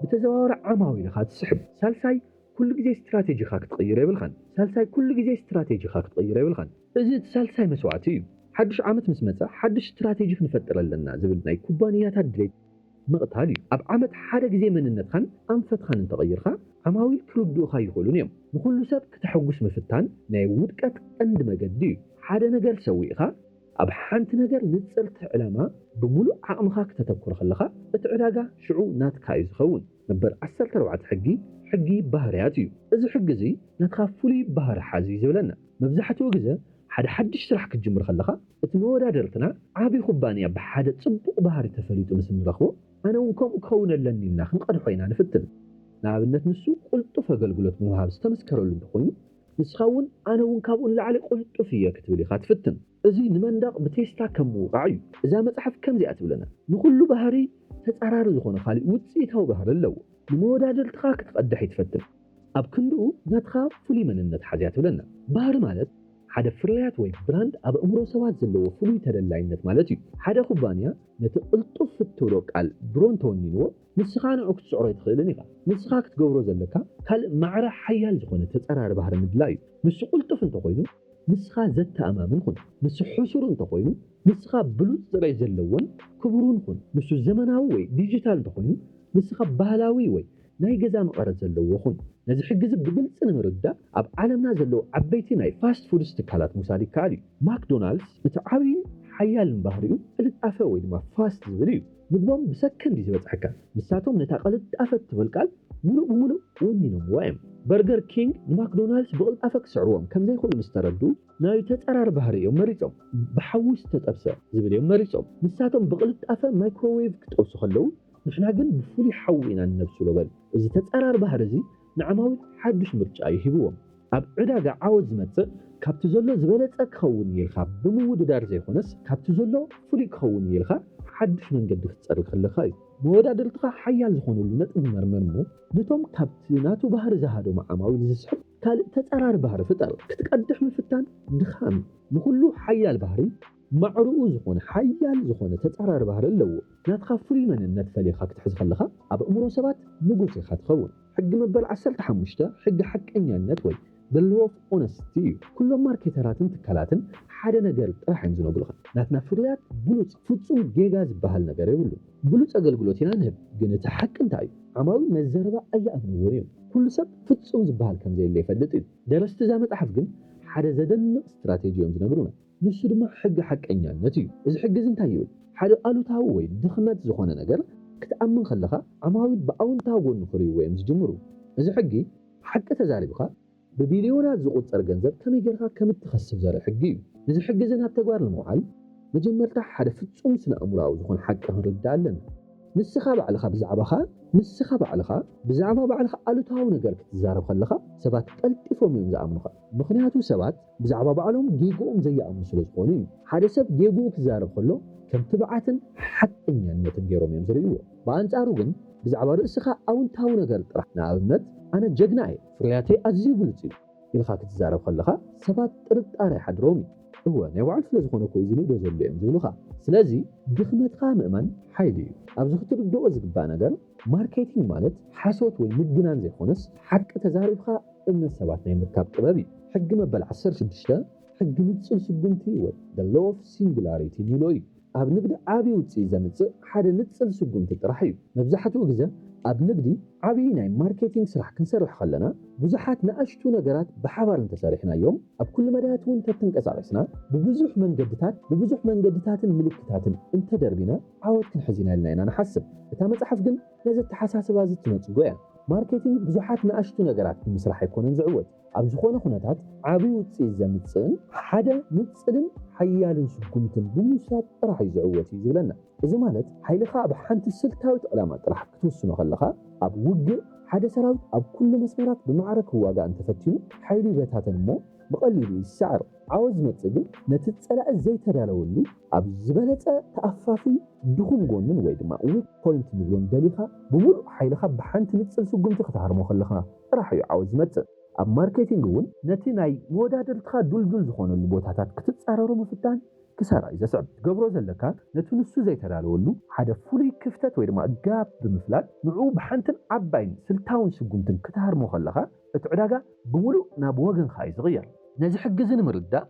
ብተዘዋዋሪ ዓማዊል ኢኻ ትስሕብ። ሳልሳይ ኩሉ ግዜ ስትራቴጂኻ ክትቕይሮ የብልካን። ሳልሳይ ኩሉ ግዜ ስትራቴጂኻ ክትቕይሮ የብልካን። እዚ እቲ ሳልሳይ መስዋእቲ እዩ። ሓዱሽ ዓመት ምስ መጸ ሓዱሽ ስትራቴጂ ክንፈጥር ኣለና ዝብል ናይ ኩባንያታት ድሌት ምቕታል እዩ። ኣብ ዓመት ሓደ ግዜ መንነትኻን ኣንፈትኻን እንተቐይርካ ዓማዊል ክርድኡኻ ኣይኽእሉን እዮም። ንኹሉ ሰብ ክተሐጉስ ምፍታን ናይ ውድቀት ቀንዲ መገዲ እዩ። ሓደ ነገር ሰዊእኻ ኣብ ሓንቲ ነገር ንጽርቲ ዕላማ ብምሉእ ዓቕምኻ ክተተኩር ከለኻ እቲ ዕዳጋ ሽዑ ናትካ እዩ ዝኸውን። መበል ዓሰርተ ኣርባዕተ ሕጊ፣ ሕጊ ባህርያት እዩ። እዚ ሕጊ እዚ ናትኻ ፍሉይ ባህሪ ሓዝ እዩ ዝብለና። መብዛሕትኡ ግዘ ሓደ ሓድሽ ስራሕ ክትጅምር ከለኻ እቲ መወዳድርትና ዓብይ ኩባንያ ብሓደ ፅቡቕ ባህሪ ተፈሊጡ ምስ እንረኽቦ ኣነ እውን ከምኡ ክኸውን ኣለኒ ኢልና ክንቐድሖ ኢና ንፍትን። ንኣብነት ንሱ ቁልጡፍ ኣገልግሎት ብምሃብ ዝተመስከረሉ እንተኾይኑ ንስኻ እውን ኣነ እውን ካብኡ ንላዕሊ ቁልጡፍ እየ ክትብል ኢኻ ትፍትን። እዚ ንመንደቕ ብቴስታ ከም ምውቓዕ እዩ። እዛ መጽሓፍ ከምዚኣ ትብለና፣ ንኹሉ ባህሪ ተጻራሪ ዝኾነ ካልእ ውጽኢታዊ ባህሪ ኣለዎ። ንመወዳድርትኻ ክትቐድሕ ይትፈትን ኣብ ክንድኡ ናትኻ ፍሉይ መንነት ሓዝያ ትብለና። ባህሪ ማለት ሓደ ፍርያት ወይ ብራንድ ኣብ ኣእምሮ ሰባት ዘለዎ ፍሉይ ተደላይነት ማለት እዩ። ሓደ ኩባንያ ነቲ ቅልጡፍ እትብሎ ቃል ድሮ እንተወኒንዎ፣ ንስኻ ንዕኡ ክትጽዕሮ ኣይትኽእልን ኢኻ። ንስኻ ክትገብሮ ዘለካ ካልእ ማዕረ ሓያል ዝኾነ ተጻራሪ ባህሪ ምድላይ እዩ። ንሱ ቅልጡፍ እንተኾይኑ፣ ንስኻ ዘተኣማምን ኹን። ንሱ ሕሱር እንተኾይኑ፣ ንስኻ ብሉጽ ጠባይ ዘለዎን ክቡርን ኹን። ንሱ ዘመናዊ ወይ ዲጂታል እንተኾይኑ፣ ንስኻ ባህላዊ ወይ ናይ ገዛ መቐረት ዘለዎ ኹን። ነዚ ሕጊ'ዚ ብግልጺ ንምርዳእ፣ ኣብ ዓለምና ዘለዉ ዓበይቲ ናይ ፋስት ፉድስ ትካላት ምውሳድ ይከኣል እዩ። ማክዶናልድስ እቲ ዓብይን ሓያልን ባህሪኡ ቅልጣፈ ወይ ድማ ፋስት ዝብል እዩ። ምግቦም ብሰከንድ እዩ ዝበጽሐካ። ንሳቶም ነታ ቅልጣፈ እትብል ቃል ምሉእ ብምሉእ ወኒኖምዋ እዮም። በርገር ኪንግ ንማክዶናልድስ ብቕልጣፈ ክስዕርዎም ከም ዘይክእሉ ምስ ተረድኡ፣ ናይ ተጻራሪ ባህሪ እዮም መሪጾም። ብሓዊ ዝተጠብሰ ዝብል እዮም መሪጾም። ንሳቶም ብቕልጣፈ ማይክሮዌቭ ክጠብሱ ከለዉ፣ ንሕና ግን ብፍሉይ ሓዊ ኢና እነብስሎ በሉ። እዚ ተጻራሪ ባህሪ እዚ ንዓማዊል ሓዱሽ ምርጫ እዩ ሂብዎም። ኣብ ዕዳጋ ዓወት ዝመጽእ ካብቲ ዘሎ ዝበለጸ ክኸውን እዩ ኢልካ ብምውድዳር ዘይኮነስ ካብቲ ዘሎ ፍሉይ ክኸውን እዩ ኢልካ ሓዱሽ መንገዲ ክትጸርግ ከለካ እዩ። መወዳድርትኻ ሓያል ዝኾነሉ ነጥቢ መርምር እሞ ነቶም ካብቲ ናቱ ባህሪ ዝሃደሙ ዓማዊል ዝስሕብ ካልእ ተጻራሪ ባህሪ ፍጠር። ክትቀድሕ ምፍታን ድኻም እዩ። ንኹሉ ሓያል ባህሪ ማዕረኡ ዝኾነ ሓያል ዝኾነ ተጻራሪ ባህሪ ኣለዎ። ናትኻ ፍሉይ መንነት ፈሊኻ ክትሕዝ ከለኻ ኣብ ኣእምሮ ሰባት ንጉስ ኢኻ ትኸውን። ሕጊ መበል ዓሰርተ ሓሙሽተ ሕጊ ሓቀኛነት ወይ The Law of Honesty እዩ። ኩሎም ማርኬተራትን ትካላትን ሓደ ነገር ጥራሕ እዮም ዝነግሩኻ፣ ናትና ፍርያት ብሉጽ፣ ፍጹም ጌጋ ዝበሃል ነገር የብሉን። ብሉጽ ኣገልግሎት ኢና ንህብ፣ ግን እቲ ሓቂ እንታይ እዩ? ዓማዊል ነዚ ዘረባ ኣይኣምንዎን እዮም። ኩሉ ሰብ ፍጹም ዝበሃል ከም ዘየለ ይፈልጥ እዩ። ደረስቲ እዛ መጽሓፍ ግን ሓደ ዘደንቕ ስትራቴጂ እዮም ዝነግሩና። ንሱ ድማ ሕጊ ሓቀኛነት እዩ። እዚ ሕጊ እዚ እንታይ ይብል? ሓደ ኣሉታዊ ወይ ድኽመት ዝኾነ ነገር ክትኣምን ከለኻ ዓማዊል ብኣውንታዊ ጎኑ ክርእይዎ እዮም ዝጅምሩ። እዚ ሕጊ ሓቂ ተዛሪብካ ብቢልዮናት ዝቑጸር ገንዘብ ከመይ ጌርካ ከም እትኸስብ ዘርኢ ሕጊ እዩ። ነዚ ሕጊ እዚ ናብ ተግባር ንምውዓል መጀመርታ ሓደ ፍጹም ስነ-ኣእምሮኣዊ ዝኾነ ሓቂ ክንርዳእ ኣለና። ንስኻ ባዕልኻ ብዛዕባኻ ንስኻ ባዕልኻ ብዛዕባ ባዕልኻ ኣሉታዊ ነገር ክትዛረብ ከለኻ ሰባት ቀልጢፎም እዮም ዝኣምኑኻ። ምኽንያቱ ሰባት ብዛዕባ ባዕሎም ጌግኦም ዘይኣምኑ ስለ ዝኾኑ እዩ። ሓደ ሰብ ጌግኡ ክዛረብ ከሎ ከም ትብዓትን ሓቀኛነትን ገይሮም እዮም ዝርእይዎ። ብኣንጻሩ ግን ብዛዕባ ርእስኻ ኣውንታዊ ነገር ጥራሕ፣ ንኣብነት ኣነ ጀግና እየ፣ ፍርያተይ ኣዝዩ ብሉጽ እዩ ኢልካ ክትዛረብ ከለኻ ሰባት ጥርጣረ ይሓድሮም እዩ። እወ ናይ ባዕሉ ስለ ዝኾነ እኮ እዩ ዝንእዶ ዘሎ እዮም ዝብሉኻ። ስለዚ ድኽመትካ ምእማን ሓይሊ እዩ። ኣብዚ ክትርድኦ ዝግባእ ነገር ማርኬቲንግ ማለት ሓሶት ወይ ምግናን ዘይኮነስ ሓቂ ተዛሪብካ እምነት ሰባት ናይ ምርካብ ጥበብ እዩ። ሕጊ መበል ዓሰርተ ሽዱሽተ ሕጊ ንጹር ስጉምቲ ወይ The Law of Singularity ንብሎ እዩ። ኣብ ንግዲ ዓቢ ውጽኢት ዘምጽእ ሓደ ንጽል ስጉምቲ ጥራሕ እዩ። መብዛሕትኡ ግዘ ኣብ ንግዲ ዓቢ ናይ ማርኬቲንግ ስራሕ ክንሰርሕ ከለና ብዙሓት ንኣሽቱ ነገራት ብሓባር እንተሰሪሕናዮም ኣብ ኩሉ መዳያት እውን ተተንቀሳቂስና ብብዙሕ መንገድታት ብብዙሕ መንገድታትን ምልክታትን እንተደርቢና ዓወት ክንሕዝ ኢና ኢልና ኢና ንሓስብ። እታ መጽሓፍ ግን ነዚ ኣተሓሳስባ እዚ እትነጽጎ እያ። ማርኬቲንግ ብዙሓት ንኣሽቱ ነገራት ብምስራሕ ኣይኮነን ዝዕወት። ኣብ ዝኾነ ኩነታት ዓቢ ውጽኢት ዘምጽእን ሓደ ንጽልን ሓያልን ስጉምትን ብምውሳድ ጥራሕ እዩ ዝዕወት እዩ ዝብለና። እዚ ማለት ሓይልኻ ኣብ ሓንቲ ስልታዊት ዕላማ ጥራሕ ክትውስኖ ከለኻ፣ ኣብ ውግእ ሓደ ሰራዊት ኣብ ኩሉ መስመራት ብማዕረ ክዋጋእ እንተፈቲኑ ሓይሉ ይበታተን እሞ ብቐሊሉ ይሰዓር። ዓወት ዝመጽእ ግን ነቲ ጸላኢ ዘይተዳለወሉ ኣብ ዝበለጸ ተኣፋፊ ድኹም ጎኑን ወይ ድማ weak point ንብሎን ደሊኻ ብምሉእ ሓይልኻ ብሓንቲ ንጽል ስጉምቲ ክትሃርሞ ከለኻ ጥራሕ እዩ ዓወት ዝመጽእ። ኣብ ማርኬቲንግ እውን። ነቲ ናይ መወዳድርትኻ ዱልዱል ዝኾነሉ ቦታታት ክትጻረሮ ምፍታን ክሳራ እዩ ዘስዕብ። ትገብሮ ዘለካ ነቲ ንሱ ዘይተዳለወሉ ሓደ ፍሉይ ክፍተት ወይ ድማ ጋፕ ብምፍላጥ ንዕኡ ብሓንትን ዓባይን ስልታውን ስጉምትን ክትሃርሞ ከለኻ፣ እቲ ዕዳጋ ብምሉእ ናብ ወገንካ እዩ ዝቕየር። ነዚ ሕጊ እዚ ንምርዳእ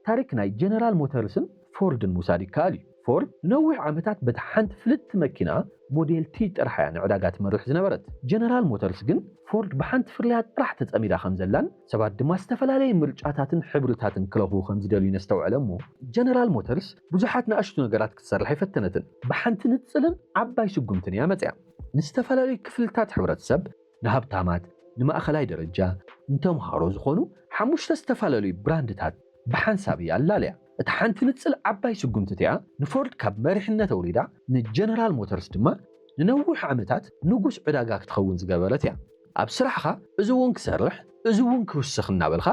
ታሪክ ናይ ጀነራል ሞተርስን ፎርድን ምውሳድ ይከኣል እዩ። ፎርድ ንነዊሕ ዓመታት በታ ሓንቲ ፍልጥቲ መኪና ሞዴል ቲ ጥራሕ እያ ንዕዳጋ ትመርሕ ዝነበረት። ጀነራል ሞተርስ ግን ፎርድ ብሓንቲ ፍርያት ጥራሕ ተጸሚዳ ከምዘላን ሰባት ድማ ዝተፈላለየ ምርጫታትን ሕብርታትን ክረኽቡ ከምዝደልዩን ኣስተውዐለ እሞ ጀነራል ሞተርስ ብዙሓት ንኣሽቱ ነገራት ክትሰርሕ ኣይፈተነትን። ብሓንቲ ንጽልን ዓባይ ስጉምትን እያ መጺኣ። ንዝተፈላለዩ ክፍልታት ሕብረተሰብ ንሃብታማት፣ ንማእኸላይ ደረጃ፣ ንተምሃሮ ዝኾኑ ሓሙሽተ ዝተፈላለዩ ብራንድታት ብሓንሳብ እያ ኣላልያ። እታ ሓንቲ ንጽል ዓባይ ስጉምቲ እቲኣ ንፎርድ ካብ መሪሕነት ኣውሪዳ ንጀነራል ሞተርስ ድማ ንነዊሕ ዓመታት ንጉስ ዕዳጋ ክትኸውን ዝገበረት እያ። ኣብ ስራሕኻ እዚ እውን ክሰርሕ እዚ እውን ክውስኽ እናበልካ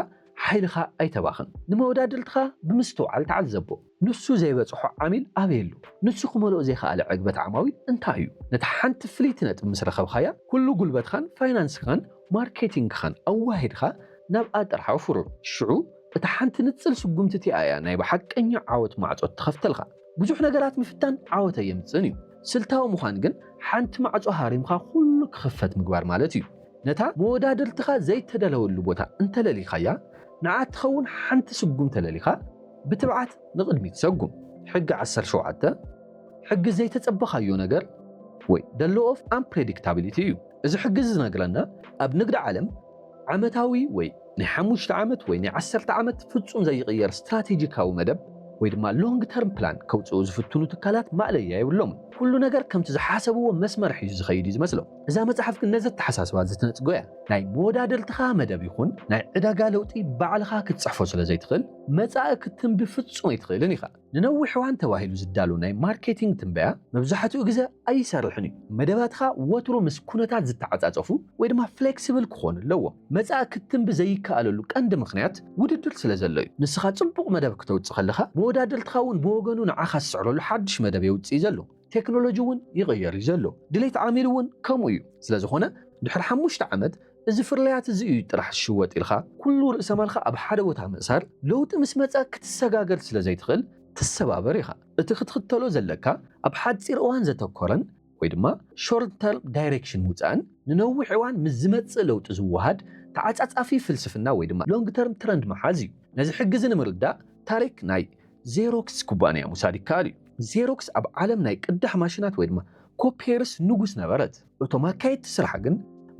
ሓይልኻ ኣይተባኽን። ንመወዳድርትኻ ብምስትውዓል ተዓዘቦ። ንሱ ዘይበጽሖ ዓሚል ኣበይ ኣሎ? ንሱ ክመልኦ ዘይከኣለ ዕግበት ዓማዊል እንታይ እዩ? ነታ ሓንቲ ፍልይቲ ነጥቢ ምስ ረኸብካያ፣ ኩሉ ጉልበትካን ፋይናንስካን ማርኬቲንግካን ኣዋሂድካ ናብኣ ጥራሕ ኣውፍሮም። ሽዑ እታ ሓንቲ ንጽል ስጉምቲ እቲኣ እያ ናይ ብሓቀኛ ዓወት ማዕጾ እትኸፍተልካ። ብዙሕ ነገራት ምፍታን ዓወት ኣየምጽእን እዩ። ስልታዊ ምዃን ግን ሓንቲ ማዕጾ ሃሪምካ ኩሉ ክኽፈት ምግባር ማለት እዩ። ነታ መወዳድርትኻ ዘይተዳለወሉ ቦታ እንተለሊኻያ፣ ንዓ እትኸውን ሓንቲ ስጉም ተለሊኻ ብትብዓት ንቕድሚት ሰጉም። ሕጊ ዓሰርተ ሸውዓተ፣ ሕጊ ዘይተጸበኻዮ ነገር ወይ The Law of Unpredictability እዩ። እዚ ሕጊ እዚ ዝነግረና ኣብ ንግዲ ዓለም ዓመታዊ ወይ። ናይ ሓሙሽተ ዓመት ወይ ናይ ዓሰርተ ዓመት ፍጹም ዘይቕየር ስትራቴጂካዊ መደብ ወይ ድማ ሎንግ ተርም ፕላን ከውጽኡ ዝፍትኑ ትካላት ማእለያ የብሎምን። ኩሉ ነገር ከምቲ ዝሓሰብዎ መስመር ሒዙ ዝኸይድ እዩ ዝመስሎም። እዛ መጽሓፍ ግን ነዚ ኣተሓሳስባ እዚ ትነጽጎ እያ። ናይ መወዳድርትኻ መደብ ይኹን ናይ ዕዳጋ ለውጢ ባዕልኻ ክትጽሕፎ ስለ ዘይትኽእል፣ መጻኢ ክትትንቢ ፍጹም ኣይትኽእልን ኢኻ። ንነዊሕ እዋን ተባሂሉ ዝዳሎ ናይ ማርኬቲንግ ትንበያ መብዛሕትኡ ግዘ ኣይሰርሕን እዩ። መደባትኻ ወትሩ ምስ ኩነታት ዝተዓፃፀፉ ወይ ድማ ፍሌክስብል ክኾኑ ኣለዎም። መፃኢ ክትትንቢ ዘይከኣለሉ ቀንዲ ምኽንያት ውድድር ስለዘሎ እዩ። ንስኻ ፅቡቕ መደብ ክተውፅእ ከለኻ መወዳደርትኻ እውን ብወገኑ ንዓኻ ዝስዕረሉ ሓዱሽ መደብ የውፅእ እዩ ዘሎ። ቴክኖሎጂ እውን ይቕየር እዩ ዘሎ፣ ድሌት ዓሚል እውን ከምኡ እዩ። ስለዝኾነ ድሕሪ ሓሙሽተ ዓመት እዚ ፍርያት እዚ እዩ ጥራሕ ዝሽወጥ ኢልካ ኩሉ ርእሰማልካ ኣብ ሓደ ቦታ ምእሳር ለውጢ ምስ መፀ ክትሰጋገር ስለዘይትኽእል ትሰባበር ኢኻ። እቲ ክትኽተሎ ዘለካ ኣብ ሓፂር እዋን ዘተኮረን ወይ ድማ ሾርት ተርም ዳይሬክሽን ምውፃእን ንነዊሕ እዋን ምስ ዝመፅእ ለውጢ ዝወሃድ ተዓፃፃፊ ፍልስፍና ወይ ድማ ሎንግ ተርም ትረንድ ምሓዝ እዩ። ነዚ ሕጊ እዚ ንምርዳእ ታሪክ ናይ ዜሮክስ ኩባንያ ምውሳድ ይከኣል እዩ። ዜሮክስ ኣብ ዓለም ናይ ቅዳሕ ማሽናት ወይ ድማ ኮፒየርስ ንጉስ ነበረት። እቶም ኣካየድቲ ስራሕ ግን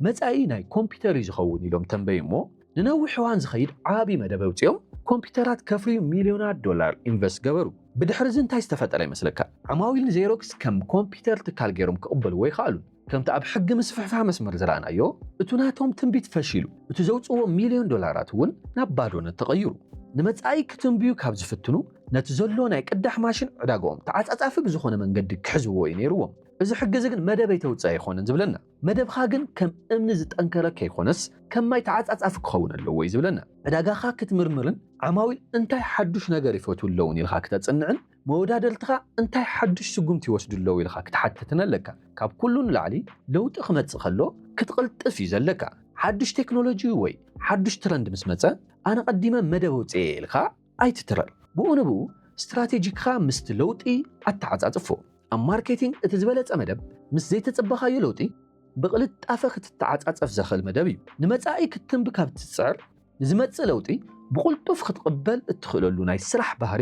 መጻኢ ናይ ኮምፒተር እዩ ዝኸውን ኢሎም ተንበዩ እሞ ንነዊሕ እዋን ዝኸይድ ዓቢ መደብ ኣውጺኦም ኮምፒተራት ከፍርዩ ሚልዮናት ዶላር ኢንቨስት ገበሩ። ብድሕሪ እዚ እንታይ ዝተፈጠረ ይመስለካ? ዓማዊል ንዜሮክስ ከም ኮምፒተር ትካል ገይሮም ክቕበልዎ ኣይኸኣሉን። ከምቲ ኣብ ሕጊ ምስፍሕፋሕ መስመር ዝረኣናዮ፣ እቲ ናቶም ትንቢት ፈሺሉ፣ እቲ ዘውጽእዎ ሚልዮን ዶላራት እውን ናብ ባዶነት ተቐይሩ። ንመጻኢ ክትንብዩ ካብ ዝፍትኑ፣ ነቲ ዘሎ ናይ ቅዳሕ ማሽን ዕዳጋኦም ተዓጻጻፊ ብዝኾነ መንገዲ ክሕዝዎ እዩ ነይርዎም። እዚ ሕጊ እዚ ግን መደበይ ተውጽእ ኣይኾነን ዝብለና። መደብኻ ግን ከም እምኒ ዝጠንከረ ከይኮነስ ከም ማይ ተዓጻጻፊ ክኸውን ኣለዎ እዩ ዝብለና። ዕዳጋኻ ክትምርምርን ዓማዊል እንታይ ሓዱሽ ነገር ይፈትዉ ኣለዉን ኢልካ ክተጽንዕን መወዳደርትኻ እንታይ ሓዱሽ ስጉምቲ ይወስዱ ኣለዉ ኢልኻ ክትሓትትን ኣለካ። ካብ ኩሉ ንላዕሊ ለውጢ ክመጽእ ከሎ ክትቕልጥፍ እዩ ዘለካ። ሓዱሽ ቴክኖሎጂ ወይ ሓዱሽ ትረንድ ምስ መጸ ኣነ ቀዲመ መደብ ኣውጺኤ እየ ኢልካ ኣይትትረር። ብኡ ንብኡ ስትራቴጂክኻ ምስቲ ለውጢ ኣተዓጻጽፎ። ኣብ ማርኬቲንግ እቲ ዝበለጸ መደብ ምስ ዘይተጸበኻዮ ለውጢ ብቕልጣፈ ክትተዓጻጸፍ ዘኽእል መደብ እዩ። ንመጻኢ ክትትንቢ ካብ እትጽዕር፣ ንዝመጽእ ለውጢ ብቕልጡፍ ክትቕበል እትኽእለሉ ናይ ስራሕ ባህሪ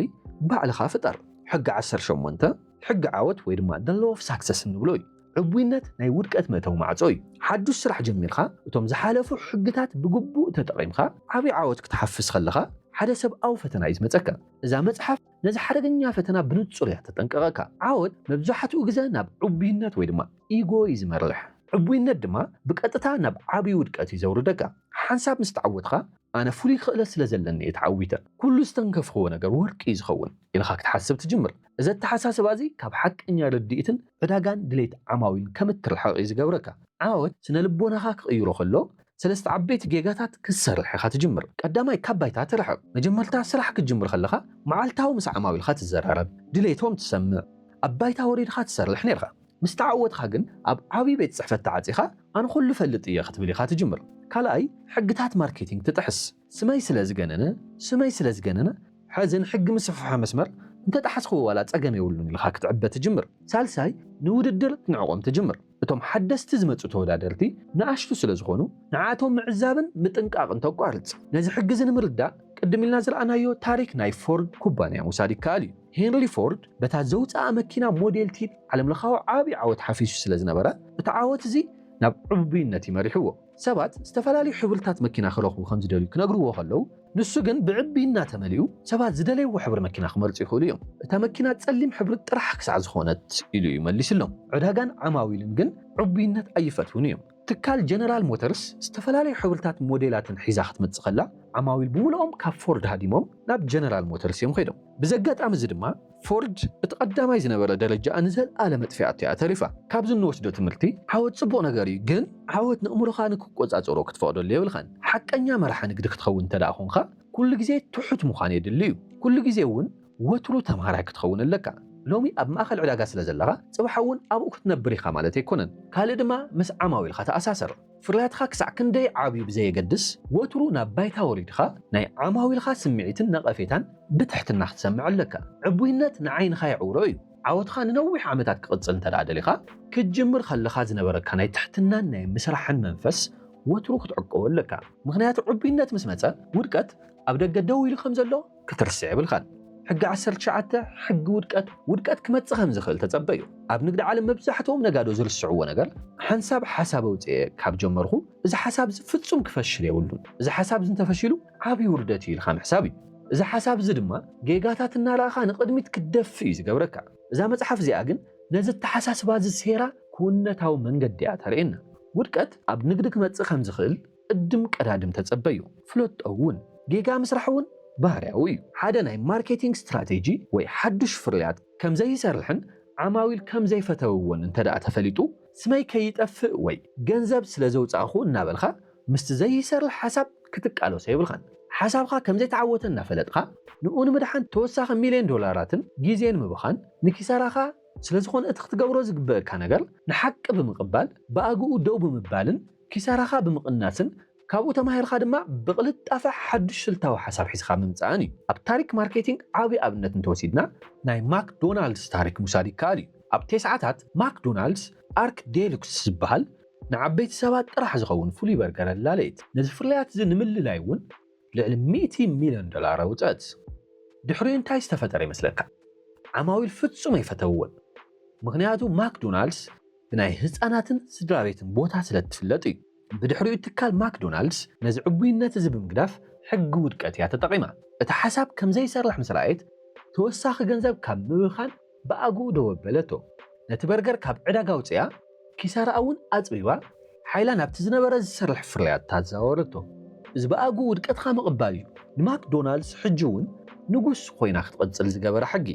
ባዕልኻ ፍጠር። ሕጊ ዓሰርተ ሸሞንተ፣ ሕጊ ዓወት ወይ ድማ The Law of Success እንብሎ እዩ። ዕቡይነት ናይ ውድቀት መእተዊ ማዕጾ እዩ። ሓዱሽ ስራሕ ጀሚርካ እቶም ዝሓለፉ ሕግታት ብግቡእ ተጠቒምካ ዓቢ ዓወት ክትሓፍስ ከለኻ ሓደ ሰብኣዊ ፈተና እዩ ዝመጸካ። እዛ መጽሓፍ። ነዚ ሓደገኛ ፈተና ብንጹር እያ ተጠንቅቐካ። ዓወት መብዛሕትኡ ግዘ ናብ ዕቡይነት ወይ ድማ ኢጎ እዩ ዝመርሕ። ዕቡይነት ድማ ብቀጥታ ናብ ዓብይ ውድቀት እዩ ዘውርደካ። ሓንሳብ ምስ ተዓወትኻ ኣነ ፍሉይ ክእለት ስለ ዘለኒ እየ ተዓዊተ፣ ኩሉ ዝተንከፍኽዎ ነገር ወርቂ እዩ ዝኸውን ኢልኻ ክትሓስብ ትጅምር። እዚ ኣተሓሳስባ እዚ ካብ ሓቀኛ ርድኢትን ዕዳጋን ድሌት ዓማዊልን ከም እትርሕቕ እዩ ዝገብረካ። ዓወት ስነ-ልቦናኻ ክቕይሮ ከሎ፣ ሰለስተ ዓበይቲ ጌጋታት ክትሰርሕ ኢኻ ትጅምር። ቀዳማይ፣ ካብ ባይታ ትርሕቕ። መጀመርታ ስራሕ ክትጅምር ከለኻ፣ መዓልታዊ ምስ ዓማዊልካ ትዘራረብ፣ ድሌቶም ትሰምዕ፣ ኣብ ባይታ ወሪድካ ትሰርሕ ኔርካ። ምስ ተዓወትካ ግን፣ ኣብ ዓቢ ቤት ጽሕፈት ተዓጺኻ፣ ኣነ ኩሉ እፈልጥ እየ ክትብል ኢኻ ትጅምር። ካልኣይ፣ ሕግታት ማርኬቲንግ ትጥሕስ። ስመይ ስለ ዝገነነ ስመይ ስለ ዝገነነ ሐዚ ንሕጊ ምስፍሕፋሕ መስመር እንተጠሓስክዎ ዋላ ፀገም የብሉን ኢልኻ ክትዕበ ትጅምር። ሳልሳይ ንውድድር ክትንዕቆም ትጅምር። እቶም ሓደስቲ ዝመፁ ተወዳደርቲ ንኣሽቱ ስለ ዝኾኑ ንዓኣቶም ምዕዛብን ምጥንቃቕን ተቋርፅ። ነዚ ሕጊ እዚ ንምርዳእ ቅድም ኢልና ዝረኣናዮ ታሪክ ናይ ፎርድ ኩባንያ ምውሳድ ይከኣል እዩ። ሄንሪ ፎርድ በታ ዘውፀኣ መኪና ሞዴል ቲ ዓለምለኻዊ ዓብዪ ዓወት ሓፊሱ ስለ ዝነበረ እቲ ዓወት እዚ ናብ ዕቡብይነት እዩ መሪሕዎ። ሰባት ዝተፈላለዩ ሕብርታት መኪና ክረኽቡ ከም ዝደልዩ ክነግርዎ ከለዉ፣ ንሱ ግን ብዕብይና ተመሊኡ፣ ሰባት ዝደለይዎ ሕብሪ መኪና ክመርጹ ይኽእሉ እዮም፣ እታ መኪና ጸሊም ሕብሪ ጥራሕ ክሳዕ ዝዀነት ኢሉ እዩ መሊስሎም። ዕዳጋን ዓማዊልን ግን ዕቡይነት ኣይፈትዉን እዮም። ትካል ጀነራል ሞተርስ ዝተፈላለዩ ሕብርታትን ሞዴላትን ሒዛ ክትመጽእ ከላ፣ ዓማዊል ብምሉኦም ካብ ፎርድ ሃዲሞም ናብ ጀነራል ሞተርስ እዮም ከይዶም። ብዘጋጣሚ እዚ ድማ፣ ፎርድ እቲ ቀዳማይ ዝነበረ ደረጃኣ ንዘልኣለ መጥፊኣቶ እያ ተሪፋ። ካብዚ እንወስዶ ትምህርቲ ዓወት ጽቡቕ ነገር እዩ ግን ዓወት ነእምሮኻ ንክቆጻጸሮ ክትፈቕደሉ የብልካን። ሓቀኛ መራሒ ንግዲ ክትኸውን እንተድኣ ኮንካ ኩሉ ግዜ ትሑት ምዃን የድሊ እዩ። ኩሉ ግዜ እውን ወትሩ ተምሃራይ ክትኸውን ኣለካ። ሎሚ ኣብ ማእከል ዕዳጋ ስለዘለኻ ጽባሕ እውን ኣብኡ ክትነብር ኢኻ ማለት ኣይኮነን። ካልእ ድማ ምስ ዓማዊልካ ተኣሳሰር። ፍርያትኻ ክሳዕ ክንደይ ዓብዩ ብዘየገድስ፣ ወትሩ ናብ ባይታ ወሪድኻ ናይ ዓማዊልካ ስምዒትን ነቐፌታን ብትሕትና ክትሰምዕ ኣለካ። ዕቡይነት ንዓይንኻ የዕውሮ እዩ። ዓወትኻ ንነዊሕ ዓመታት ክቕጽል እንተድኣ ደሊኻ፣ ክትጅምር ከለኻ ዝነበረካ ናይ ትሕትናን ናይ ምስራሕን መንፈስ ወትሩ ክትዕቀቦ ኣለካ። ምኽንያቱ ዕቡይነት ምስ መጸ፣ ውድቀት ኣብ ደገ ደው ኢሉ ከም ዘሎ ክትርስዕ የብልካን። ሕጊ ዓሰርተ ትሽዓተ፣ ሕጊ ውድቀት፣ ውድቀት ክመጽእ ከም ዝኽእል ተጸበዩ። ኣብ ንግዲ ዓለም መብዛሕትኦም ነጋዶ ዝርስዕዎ ነገር፣ ሓንሳብ ሓሳብ ኣውጺኤ ካብ ጀመርኹ፣ እዚ ሓሳብ'ዚ ፍጹም ክፈሽል የብሉን፣ እዚ ሓሳብ'ዚ እንተፈሺሉ ዓቢ ውርደት'ዩ ኢልካ ምሕሳብ እዩ። እዚ ሓሳብ'ዚ ድማ ጌጋታት እናረኣኻ ንቕድሚት ክትደፍእ እዩ ዝገብረካ። እዛ መጽሓፍ እዚኣ ግን ነዚ ኣተሓሳስባ'ዚ ሴራ ክውንነታዊ መንገዲ'ያ ተርእየና። ውድቀት ኣብ ንግዲ ክመጽእ ከም ዝኽእል፣ ቅድም ቀዳድም ተጸበዩ። ፍለጦ እውን። ጌጋ ምስራሕ እውን ባህርያዊ እዩ። ሓደ ናይ ማርኬቲንግ ስትራቴጂ ወይ ሓዱሽ ፍርያት ከም ዘይሰርሕን ዓማዊል ከም ዘይፈተውዎን እንተድኣ ተፈሊጡ፣ ስመይ ከይጠፍእ ወይ ገንዘብ ስለ ዘውጻእኩ እናበልካ ምስቲ ዘይሰርሕ ሓሳብ ክትቃለሶ የብልካን። ሓሳብካ ከም ዘይተዓወተ እናፈለጥካ ንኡ ንምድሓን ተወሳኺ ሚልዮን ዶላራትን ግዜን ምብኻን ንኪሳራኻ ስለ ዝኾነ እቲ ክትገብሮ ዝግበእካ ነገር ንሓቂ ብምቕባል ብኣግኡ ደው ብምባልን ኪሳራኻ ብምቕናስን ካብኡ ተማሂርካ ድማ ብቕልጣፈ ሓዱሽ ስልታዊ ሓሳብ ሒዝካ ምምጻእን እዩ። ኣብ ታሪክ ማርኬቲንግ ዓቢ ኣብነት እንተወሲድና ናይ ማክ ዶናልድስ ታሪክ ምውሳድ ይከኣል እዩ። ኣብ ቴስዓታት ማክ ዶናልድስ ኣርክ ዴሉክስ ዝበሃል ንዓበይቲ ሰባት ጥራሕ ዝኸውን ፍሉይ በርገር ኣላለየት። ነዚ ፍርያት እዚ ንምልላይ እውን ልዕሊ ሚእቲ ሚልዮን ዶላር ኣውጸኣት። ድሕሪኡ እንታይ ዝተፈጠረ ይመስለካ? ዓማዊል ፍጹም ኣይፈተውዎን። ምኽንያቱ ማክ ዶናልድስ ብናይ ህጻናትን ስድራቤትን ቦታ ስለ እትፍለጥ እዩ። ብድሕሪኡ ትካል ማክዶናልድስ ነዚ ዕቡይነት እዚ ብምግዳፍ ሕጊ ውድቀት እያ ተጠቒማ። እቲ ሓሳብ ከም ዘይሰርሕ ምስ ረኣየት ተወሳኺ ገንዘብ ካብ ምብኻን ብኣግኡ ደው ኣበለቶ። ነቲ በርገር ካብ ዕዳጋ ኣውጺኣ ኪሳራኣ እውን ኣጽቢባ ሓይላ ናብቲ ዝነበረ ዝሰርሕ ፍርያታ ኣዘዋወረቶ። እዚ ብኣግኡ ውድቀትካ ምቕባል እዩ። ንማክዶናልድስ ሕጂ እውን ንጉስ ኮይና ክትቕጽል ዝገበራ ሕጊ።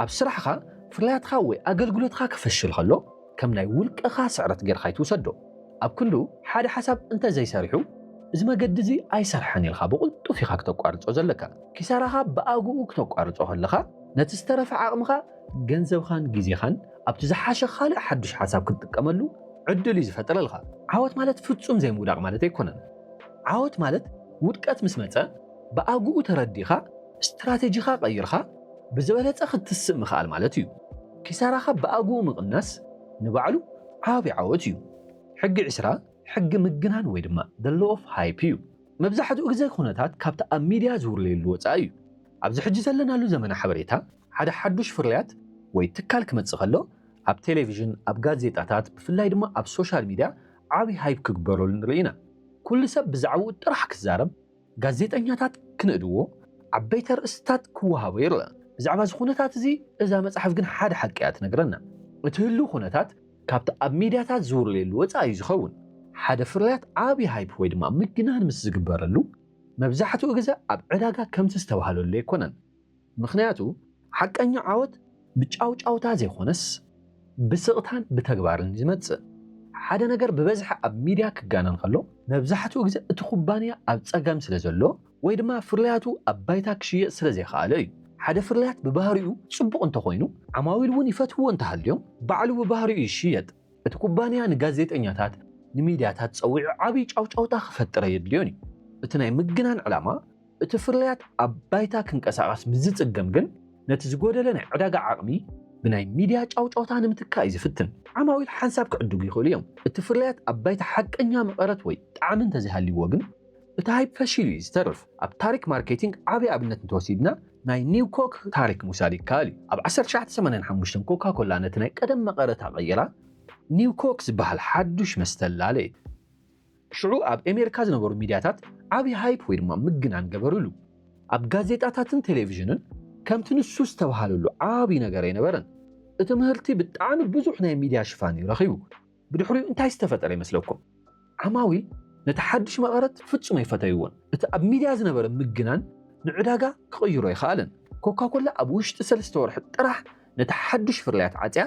ኣብ ስራሕኻ፣ ፍርያትካ ወይ ኣገልግሎትካ ክፍሽል ከሎ ከም ናይ ውልቅኻ ስዕረት ጌርካ ኣይትውሰዶ። ኣብ ክንዱ ሓደ ሓሳብ እንተ ዘይሰሪሑ፣ እዚ መገዲ እዚ ኣይሰርሐን ኢልካ ብቕልጡፍ ኢኻ ክተቋርጾ ዘለካ። ኪሳራኻ ብኣግኡ ክተቋርጾ ከለኻ፣ ነቲ ዝተረፈ ዓቕምኻ፣ ገንዘብኻን ግዜኻን ኣብቲ ዝሓሸ ካልእ ሓድሽ ሓሳብ ክትጥቀመሉ ዕድል እዩ ዝፈጥረልካ። ዓወት ማለት ፍጹም ዘይምውዳቕ ማለት ኣይኮነን። ዓወት ማለት ውድቀት ምስ መጸ ብኣግኡ ተረዲእካ ስትራተጂኻ ቀይርካ፣ ብዝበለፀ ክትስእ ምኽኣል ማለት እዩ። ኪሳራኻ ብኣግኡ ምቕናስ ንባዕሉ ዓብዪ ዓወት እዩ። ሕጊ ዕስራ ሕጊ ምግናን ወይ ድማ The Law of Hype እዩ። መብዛሕትኡ ግዘ ኩነታት ካብቲ ኣብ ሚድያ ዝውርለየሉ ወፃኢ እዩ። ኣብዚ ሕጂ ዘለናሉ ዘመነ ሓበሬታ ሓደ ሓዱሽ ፍርያት ወይ ትካል ክመፅእ ከሎ ኣብ ቴሌቪዥን፣ ኣብ ጋዜጣታት ብፍላይ ድማ ኣብ ሶሻል ሚድያ ዓብዪ ሃይፕ ክግበረሉ ንርኢ ኢና። ኩሉ ሰብ ብዛዕብኡ ጥራሕ ክዛረብ፣ ጋዜጠኛታት ክንእድዎ፣ ዓበይቲ ኣርእስትታት ክወሃቦ ይረኣ። ብዛዕባ እዚ ዅነታት እዚ እዛ መጽሓፍ ግን ሓደ ሓቂ እያ እትነግረና። እቲ ህሉው ዅነታት ካብቲ ኣብ ሚድያታት ዝውረየሉ ወጻኢ እዩ ዝኸውን። ሓደ ፍርያት ዓቢ ሃይፕ ወይ ድማ ምግናን ምስ ዝግበረሉ፣ መብዛሕትኡ ግዘ ኣብ ዕዳጋ ከምቲ ዝተባህለሉ ኣይኰነን። ምኽንያቱ ሓቀኛ ዓወት ብጫውጫውታ ዘይኮነስ ብስቕታን ብተግባርን እዩ ዝመጽእ። ሓደ ነገር ብበዝሒ ኣብ ሚድያ ክጋነን ከሎ መብዛሕትኡ ግዘ እቲ ኩባንያ ኣብ ፀገም ስለ ዘሎ ወይ ድማ ፍርያቱ ኣብ ባይታ ክሽየጥ ስለ ዘይኸኣለ እዩ። ሓደ ፍርያት ብባህሪኡ ፅቡቕ እንተኾይኑ ዓማዊል እውን ይፈትውዎ እንተሃልዮም ባዕሉ ብባህሪኡ ይሽየጥ። እቲ ኩባንያ ንጋዜጠኛታት ንሚድያታት ፀዊዑ ዓብይ ጫውጫውታ ክፈጥር ኣየድልዮን እዩ። እቲ ናይ ምግናን ዕላማ እቲ ፍርያት ኣብ ባይታ ክንቀሳቐስ ምስ ዝጽገም ግን፣ ነቲ ዝጎደለ ናይ ዕዳጋ ዓቕሚ ብናይ ሚድያ ጫውጫውታ ንምትካእ እዩ ዝፍትን። ዓማዊል ሓንሳብ ክዕድጉ ይኽእሉ እዮም፣ እቲ ፍርያት ኣብ ባይታ ሓቀኛ መቐረት ወይ ጣዕሚ እንተዘይሃልይዎ ግን፣ እቲ ሃይፕ ፈሺሉ እዩ ዝተርፍ። ኣብ ታሪክ ማርኬቲንግ ዓቢ ኣብነት እንተወሲድና፣ ናይ ኒው ኮክ ታሪክ ምውሳድ ይከኣል እዩ። ኣብ ዓሰርተ ትሽዓተ ሰማንያን ሓሙሽተን ኮካ ኮላ ነቲ ናይ ቀደም መቐረታ ቀይራ ኒው ኮክ ዝበሃል ሓዱሽ መስተ ኣላለየት። ሽዑ ኣብ ኤሜርካ ዝነበሩ ሚድያታት ዓቢ ሃይፕ ወይ ድማ ምግናን ገበርሉ። ኣብ ጋዜጣታትን ቴሌቪዥንን ከምቲ ንሱ ዝተብሃለሉ ዓቢ ነገር ኣይነበረን። እቲ ምህርቲ ብጣዕሚ ብዙሕ ናይ ሚድያ ሽፋን እዩ ረኺቡ። ብድሕሪኡ እንታይ ዝተፈጠረ ይመስለኩም? ዓማዊል ነቲ ሓድሽ መቐረት ፍጹም ኣይፈተይዎን። እቲ ኣብ ሚድያ ዝነበረ ምግናን ንዕዳጋ ክቕይሮ ኣይኸኣለን። ኮካኮላ ኣብ ውሽጢ ሰለስተ ወርሒ ጥራሕ ነቲ ሓድሽ ፍርያት ዓጽያ፣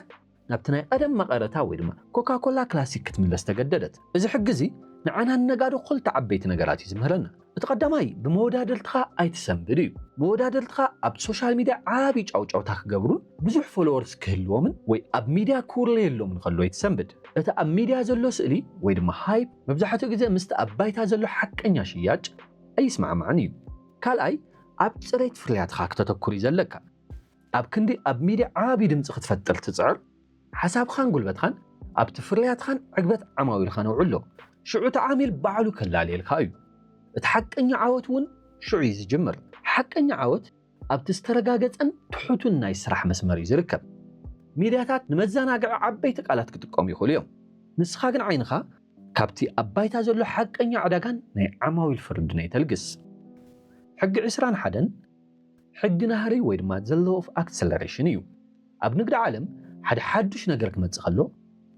ናብቲ ናይ ቐደም መቐረታ ወይ ድማ ኮካኮላ ክላሲክ ክትምለስ ተገደደት። እዚ ሕጊ እዚ ንዓና ንነጋዶ ክልተ ዓበይቲ ነገራት እዩ ዝምህረና። እቲ ቐዳማይ ብመወዳድርትኻ ኣይትሰንብድ እዩ። መወዳድርትኻ ኣብ ሶሻል ሚድያ ዓብዪ ጫውጫውታ ክገብሩን ብዙሕ ፎሎወርስ ክህልዎምን ወይ ኣብ ሚድያ ክውርለየሎምን ከሎ ኣይትሰንብድ። እቲ ኣብ ሚድያ ዘሎ ስእሊ ወይ ድማ ሃይፕ መብዛሕትኡ ግዘ ምስቲ ኣብ ባይታ ዘሎ ሓቀኛ ሽያጭ ኣይስማዕማዕን እዩ። ካልኣይ ኣብ ፅሬት ፍርያትኻ ክተተኩር እዩ ዘለካ። ኣብ ክንዲ ኣብ ሚድያ ዓቢ ድምጺ ክትፈጥር ትጽዕር፣ ሓሳብኻን ጉልበትኻን ኣብቲ ፍርያትኻን ዕግበት ዓማዊልኻን ኣውዕሎ። ሽዑ እቲ ዓሚል ባዕሉ ከላልየልካ እዩ። እቲ ሓቀኛ ዓወት እውን ሽዑ እዩ ዝጅምር። ሓቀኛ ዓወት ኣብቲ ዝተረጋገጸን ትሑትን ናይ ስራሕ መስመር እዩ ዝርከብ። ሚድያታት ንመዘናግዒ ዓበይቲ ቃላት ክጥቀሙ ይኽእሉ እዮም፣ ንስኻ ግን ዓይንኻ ካብቲ ኣብ ባይታ ዘሎ ሓቀኛ ዕዳጋን ናይ ዓማዊል ፍርድን ኣይተልግስ። ሕጊ ዕስራን ሓደን። ሕጊ ናህሪ ወይ ድማ the law of acceleration እዩ። ኣብ ንግዲ ዓለም ሓደ ሓዱሽ ነገር ክመጽእ ከሎ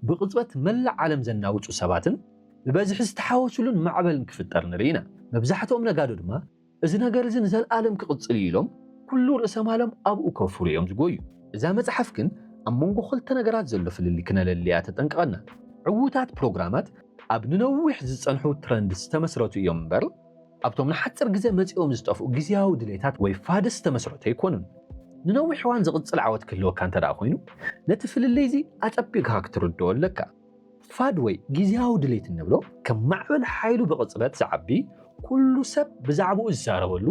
ብቕጽበት መላእ ዓለም ዘናውጹ ሰባትን ብበዝሒ ዝተሓወሱሉን ማዕበልን ክፍጠር ንርኢ ኢና። መብዛሕትኦም ነጋዶ ድማ እዚ ነገር እዚ ንዘልኣለም ክቕጽል እዩ ኢሎም ኩሉ ርእሰ ማሎም ኣብኡ ከውፍሩ እዮም ዝጎዩ። እዛ መጽሓፍ ግን ኣብ መንጎ ክልተ ነገራት ዘሎ ፍልልይ ክነለሊ እያ ተጠንቅቐና። ዕዉታት ፕሮግራማት ኣብ ንነዊሕ ዝጸንሑ ትረንድስ ዝተመስረቱ እዮም እምበር፣ ኣብቶም ንሓጽር ግዜ መጺኦም ዝጠፍኡ ግዝያዊ ድሌታት ወይ ፋድስ ዝተመስረቱ ኣይኮኑን። ንነዊሕ እዋን ዝቕጽል ዓወት ክህልወካ እንተድኣ ኾይኑ፣ ነቲ ፍልልይ'ዚ ኣጸቢቕካ ክትርድኦ ኣለካ። ፋድ ወይ ግዝያዊ ድሌት እንብሎ፣ ከም ማዕበል ሓይሉ ብቕጽበት ዝዓቢ፣ ኩሉ ሰብ ብዛዕባኡ ዝዛረበሉ፣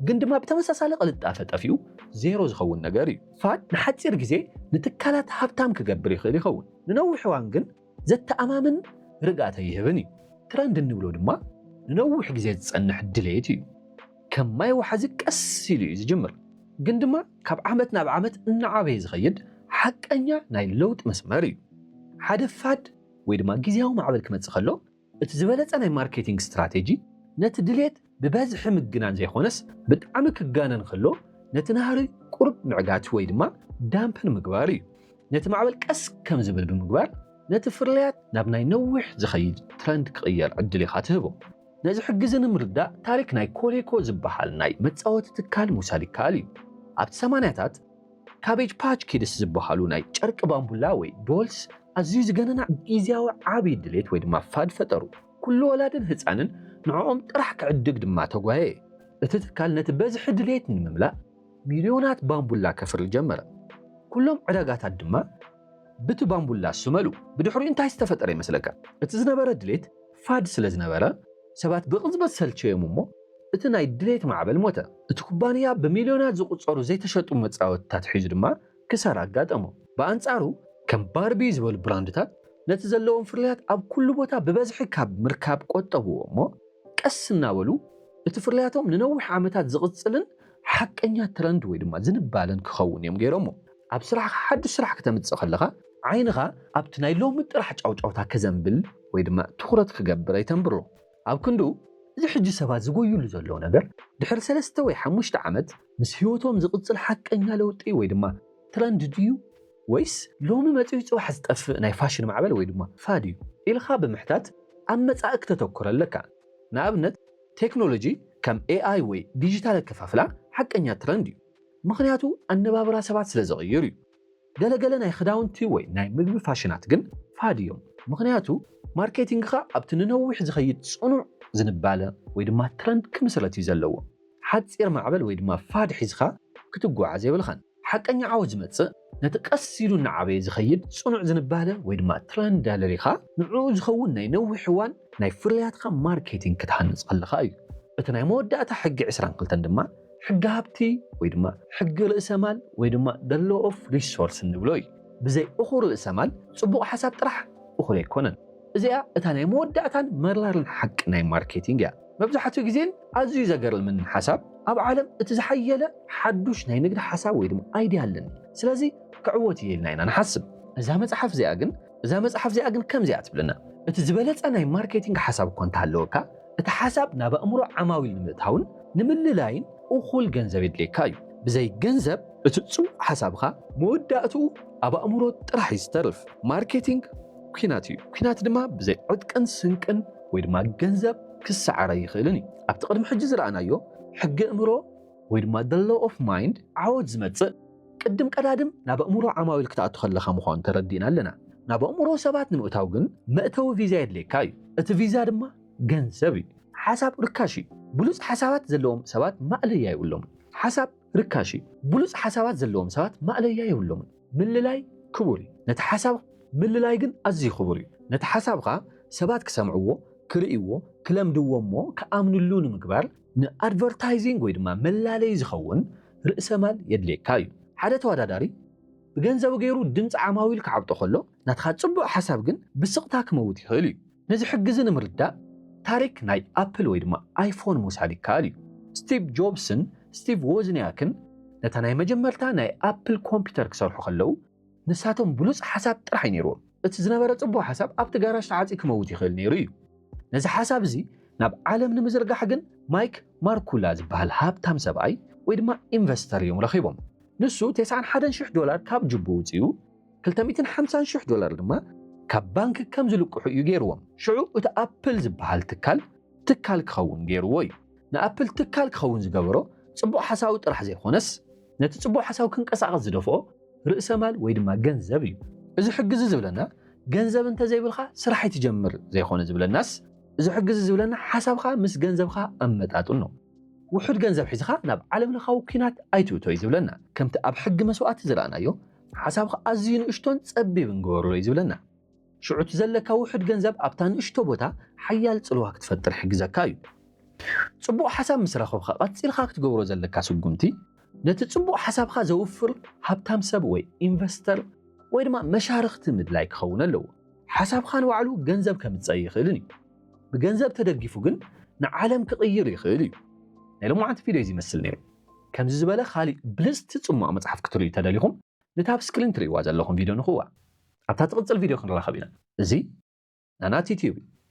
ግን ድማ ብተመሳሳሊ ቅልጣፈ ጠፊኡ ዜሮ ዝኸውን ነገር እዩ። ፋድ ንሓጺር ግዜ ንትካላት ሃብታም ክገብር ይኽእል ይኸውን፣ ንነዊሕ እዋን ግን ዘተኣማምን ርግኣት ኣይህብን እዩ። ትረንድ እንብሎ ድማ ንነዊሕ ግዜ ዝጸንሕ ድሌት እዩ። ከም ማይ ወሓዚ ቀስ ኢሉ እዩ ዝጅምር፣ ግን ድማ ካብ ዓመት ናብ ዓመት እናዓበየ ዝኸይድ ሓቀኛ ናይ ለውጢ መስመር እዩ። ሓደ ፋድ ወይ ድማ ግዝያዊ ማዕበል ክመጽእ ከሎ፣ እቲ ዝበለጸ ናይ ማርኬቲንግ ስትራቴጂ ነቲ ድሌት ብበዝሒ ምግናን ዘይኮነስ ብጣዕሚ ክጋነን ከሎ ነቲ ናህሪ ቁሩብ ምዕጋት ወይ ድማ ዳምፕን ምግባር እዩ። ነቲ ማዕበል ቀስ ከም ዝብል ብምግባር ነቲ ፍርልያት ናብ ናይ ነዊሕ ዝኸይድ ትረንድ ክቕየር ዕድል ኢኻ ትህቦ። ነዚ ሕግዚ ንምርዳእ ታሪክ ናይ ኮሌኮ ዝበሃል ናይ መጻወቲ ትካል ምውሳድ ይከኣል እዩ። ኣብቲ ሰማንያታት፣ ካቤጅ ፓች ኪድስ ዝበሃሉ ናይ ጨርቂ ባምቡላ ወይ ዶልስ ኣዝዩ ዝገነና ግዝያዊ ዓቢ ድሌት ወይ ድማ ፋድ ፈጠሩ። ኩሉ ወላድን ህጻንን ንዕኦም ጥራሕ ክዕድግ ድማ ተጓየየ። እቲ ትካል ነቲ በዝሒ ድሌት ንምምላእ ሚልዮናት ባምቡላ ከፍሪ ጀመረ። ኩሎም ዕዳጋታት ድማ ብቲ ባምቡላ ስመሉ። ብድሕሪኡ እንታይ ዝተፈጠረ ይመስለካ? እቲ ዝነበረ ድሌት ፋድ ስለ ዝነበረ፣ ሰባት ብቕጽበት ሰልቸዮም እሞ እቲ ናይ ድሌት ማዕበል ሞተ። እቲ ኩባንያ ብሚልዮናት ዝቑጸሩ ዘይተሸጡ መጻወድታት ሒዙ ድማ ክሳራ ኣጋጠሞ። ብኣንጻሩ ከም ባርቢ ዝበሉ ብራንድታት ነቲ ዘለዎም ፍርያት ኣብ ኩሉ ቦታ ብበዝሒ ካብ ምርካብ ቆጠብዎ እሞ ቀስ እናበሉ እቲ ፍርያቶም ንነዊሕ ዓመታት ዝቕጽልን ሓቀኛ ትረንድ ወይ ድማ ዝንባለን ክኸውን እዮም ገይሮሞ። ኣብ ስራሕኻ ሓዱሽ ስራሕ ክተምጽእ ከለኻ ዓይንኻ ኣብቲ ናይ ሎሚ ጥራሕ ጫውጫውታ ከዘንብል ወይ ድማ ትኹረት ክገብር ኣይተንብሮ። ኣብ ክንድኡ እዚ ሕጂ ሰባት ዝጎዩሉ ዘለዉ ነገር ድሕሪ ሰለስተ ወይ ሓሙሽተ ዓመት ምስ ህይወቶም ዝቕጽል ሓቀኛ ለውጢ ወይ ድማ ትረንድ ድዩ ወይስ ሎሚ መጺኡ ጽባሕ ዝጠፍእ ናይ ፋሽን ማዕበል ወይ ድማ ፋድ እዩ ኢልካ ብምሕታት ኣብ መጻኢ ክተተኩር ኣለካ። ንኣብነት። ቴክኖሎጂ ከም ኤኣይ ወይ ዲጂታል ኣከፋፍላ ሓቀኛ ትረንድ እዩ፣ ምኽንያቱ ኣነባብራ ሰባት ስለ ዝቕይር እዩ። ገለ ገለ ናይ ክዳውንቲ ወይ ናይ ምግቢ ፋሽናት ግን ፋድ እዮም፣ ምኽንያቱ ማርኬቲንግካ ኣብቲ ንነዊሕ ዝኸይድ ጽኑዕ ዝንባለ ወይ ድማ ትረንድ ክምስረት እዩ ዘለዎ። ሓጺር ማዕበል ወይ ድማ ፋድ ሒዝካ ክትጓዓዝ የብልካን። ሓቀኛ ዓወት ዝመጽእ ነቲ ቀስ ኢሉ እናዓበየ ዝኸይድ ጽኑዕ ዝንባለ ወይ ድማ ትረንድ ኣለሊኻ ንዕኡ ዝኸውን ናይ ነዊሕ እዋን ናይ ፍርያትካ ማርኬቲንግ ክትሃንጽ ከለኻ እዩ። እቲ ናይ መወዳእታ ሕጊ ዕስራን ክልተን ድማ ሕጊ ሃብቲ ወይ ድማ ሕጊ ርእሰ ማል ወይ ድማ the law of resource እንብሎ እዩ። ብዘይ እኹል ርእሰ ማል ጽቡቕ ሓሳብ ጥራሕ እኹል ኣይኮነን። እዚኣ እታ ናይ መወዳእታን መራርን ሓቂ ናይ ማርኬቲንግ እያ። መብዛሕትኡ ግዜን ኣዝዩ ዘገርምን ሓሳብ ኣብ ዓለም እቲ ዝሓየለ ሓዱሽ ናይ ንግድ ሓሳብ ወይ ድማ ኣይድያ ኣለኒ ስለዚ ክዕወት እየ ኢልና ኢና ንሓስብ እዛ መጽሓፍ እዚኣ ግን እዛ መጽሓፍ እዚኣ ግን ከምዚ እያ ትብለና እቲ ዝበለጸ ናይ ማርኬቲንግ ሓሳብ እኳ እንተሃለወካ እቲ ሓሳብ ናብ ኣእምሮ ዓማዊል ንምእታውን ንምልላይን እኹል ገንዘብ የድልየካ እዩ ብዘይ ገንዘብ እቲ ጽቡቕ ሓሳብኻ መወዳእትኡ ኣብ ኣእምሮ ጥራሕ እዩ ዝተርፍ ማርኬቲንግ ኲናት እዩ ኲናት ድማ ብዘይ ዕጥቅን ስንቅን ወይ ድማ ገንዘብ ክሰዓር ኣይኽእልን እዩ። ኣብቲ ቅድሚ ሕጂ ዝረኣናዮ ሕጊ እምሮ ወይ ድማ the law of mind ዓወት ዝመጽእ ቅድም ቀዳድም ናብ ኣእምሮ ዓማዊል ክትኣቱ ከለኻ ምዃኑ ተረዲእና ኣለና። ናብ ኣእምሮ ሰባት ንምእታው ግን መእተዊ ቪዛ የድልየካ እዩ። እቲ ቪዛ ድማ ገንዘብ እዩ። ሓሳብ ርካሽ እዩ። ብሉጽ ሓሳባት ዘለዎም ሰባት ማእለያ የብሎምን። ሓሳብ ርካሽ እዩ። ብሉጽ ሓሳባት ዘለዎም ሰባት ማእለያ የብሎምን። ምልላይ ክቡር እዩ፣ ነቲ ሓሳብ ምልላይ ግን ኣዝዩ ክቡር እዩ። ነቲ ሓሳብካ ሰባት ክሰምዕዎ፣ ክርእይዎ፣ ክለምድዎ እሞ ክኣምንሉ ንምግባር ንኣድቨርታይዚንግ ወይ ድማ መላለዪ ዝኸውን ርእሰማል የድልየካ እዩ። ሓደ ተወዳዳሪ ብገንዘቡ ገይሩ ድምጺ ዓማዊል ክዓብጦ ከሎ ናትካ ጽቡቕ ሓሳብ ግን ብስቕታ ክመውት ይኽእል እዩ። ነዚ ሕጊዚ ንምርዳእ ታሪክ ናይ ኣፕል ወይ ድማ ኣይፎን ምውሳድ ይከኣል እዩ። ስቲቭ ጆብስን ስቲቭ ዎዝንያክን ነታ ናይ መጀመርታ ናይ ኣፕል ኮምፒተር ክሰርሑ ከለዉ ንሳቶም ብሉጽ ሓሳብ ጥራሕ እዩ ነይርዎም። እቲ ዝነበረ ጽቡቅ ሓሳብ ኣብቲ ጋራጅ ተዓጽዩ ክመውት ይኽእል ነይሩ እዩ። ነዚ ሓሳብ እዚ ናብ ዓለም ንምዝርጋሕ ግን ማይክ ማርኩላ ዝበሃል ሃብታም ሰብኣይ ወይ ድማ ኢንቨስተር እዮም ረኺቦም። ንሱ ቴስዓን ሓደን ሽሕ ዶላር ካብ ጅቡ ኣውጺኡ ክልተ ሚእትን ሓምሳን ሽሕ ዶላር ድማ ካብ ባንክ ከም ዝልቅሑ እዩ ገይርዎም። ሽዑ እቲ ኣፕል ዝበሃል ትካል ትካል ክኸውን ገይርዎ እዩ። ንኣፕል ትካል ክኸውን ዝገበሮ ጽቡቕ ሓሳዊ ጥራሕ ዘይኮነስ፣ ነቲ ጽቡቕ ሓሳዊ ክንቀሳቐስ ዝደፍኦ ርእሰማል ወይ ድማ ገንዘብ እዩ። እዚ ሕጊ'ዚ ዝብለና ገንዘብ እንተዘይብልካ ስራሕ ኣይትጀምር ዘይኮነ ዝብለናስ፣ እዚ ሕጊ'ዚ ዝብለና ሓሳብካ ምስ ገንዘብካ ኣመጣጥኖ። ውሑድ ገንዘብ ሒዝኻ ናብ ዓለምለኻዊ ኲናት ኣይትእቶ እዩ ዝብለና። ከምቲ ኣብ ሕጊ መስዋእቲ ዝረኣናዮ፣ ሓሳብካ ኣዝዩ ንእሽቶን ጸቢብን ግበሮ እዩ ዝብለና። ሽዑ እቲ ዘለካ ውሑድ ገንዘብ ኣብታ ንእሽቶ ቦታ ሓያል ጽልዋ ክትፈጥር ይሕግዘካ እዩ። ጽቡቕ ሓሳብ ምስ ረኸብካ ቀጺልካ ክትገብሮ ዘለካ ስጉምቲ ነቲ ጽቡቕ ሓሳብካ ዘውፍር ሃብታም ሰብ ወይ ኢንቨስተር ወይ ድማ መሻርኽቲ ምድላይ ክኸውን ኣለዎ። ሓሳብካ ንባዕሉ ገንዘብ ከምጽእ ኣይኽእልን እዩ። ብገንዘብ ተደጊፉ ግን ንዓለም ክቕይር ይኽእል እዩ። ናይ ሎማዓንቲ ቪድዮ እዚ ይመስል ነይሩ። ከምዚ ዝበለ ኻሊእ ብልጽቲ ጽሟቕ መጽሓፍ ክትርእዩ ተደሊኹም ነታ ኣብ ስክሪን ትርእይዋ ዘለኹም ቪድዮ ንኽዋ። ኣብታ ትቕጽል ቪድዮ ክንራኸብ ኢና። እዚ ናናቲትዩብ እዩ።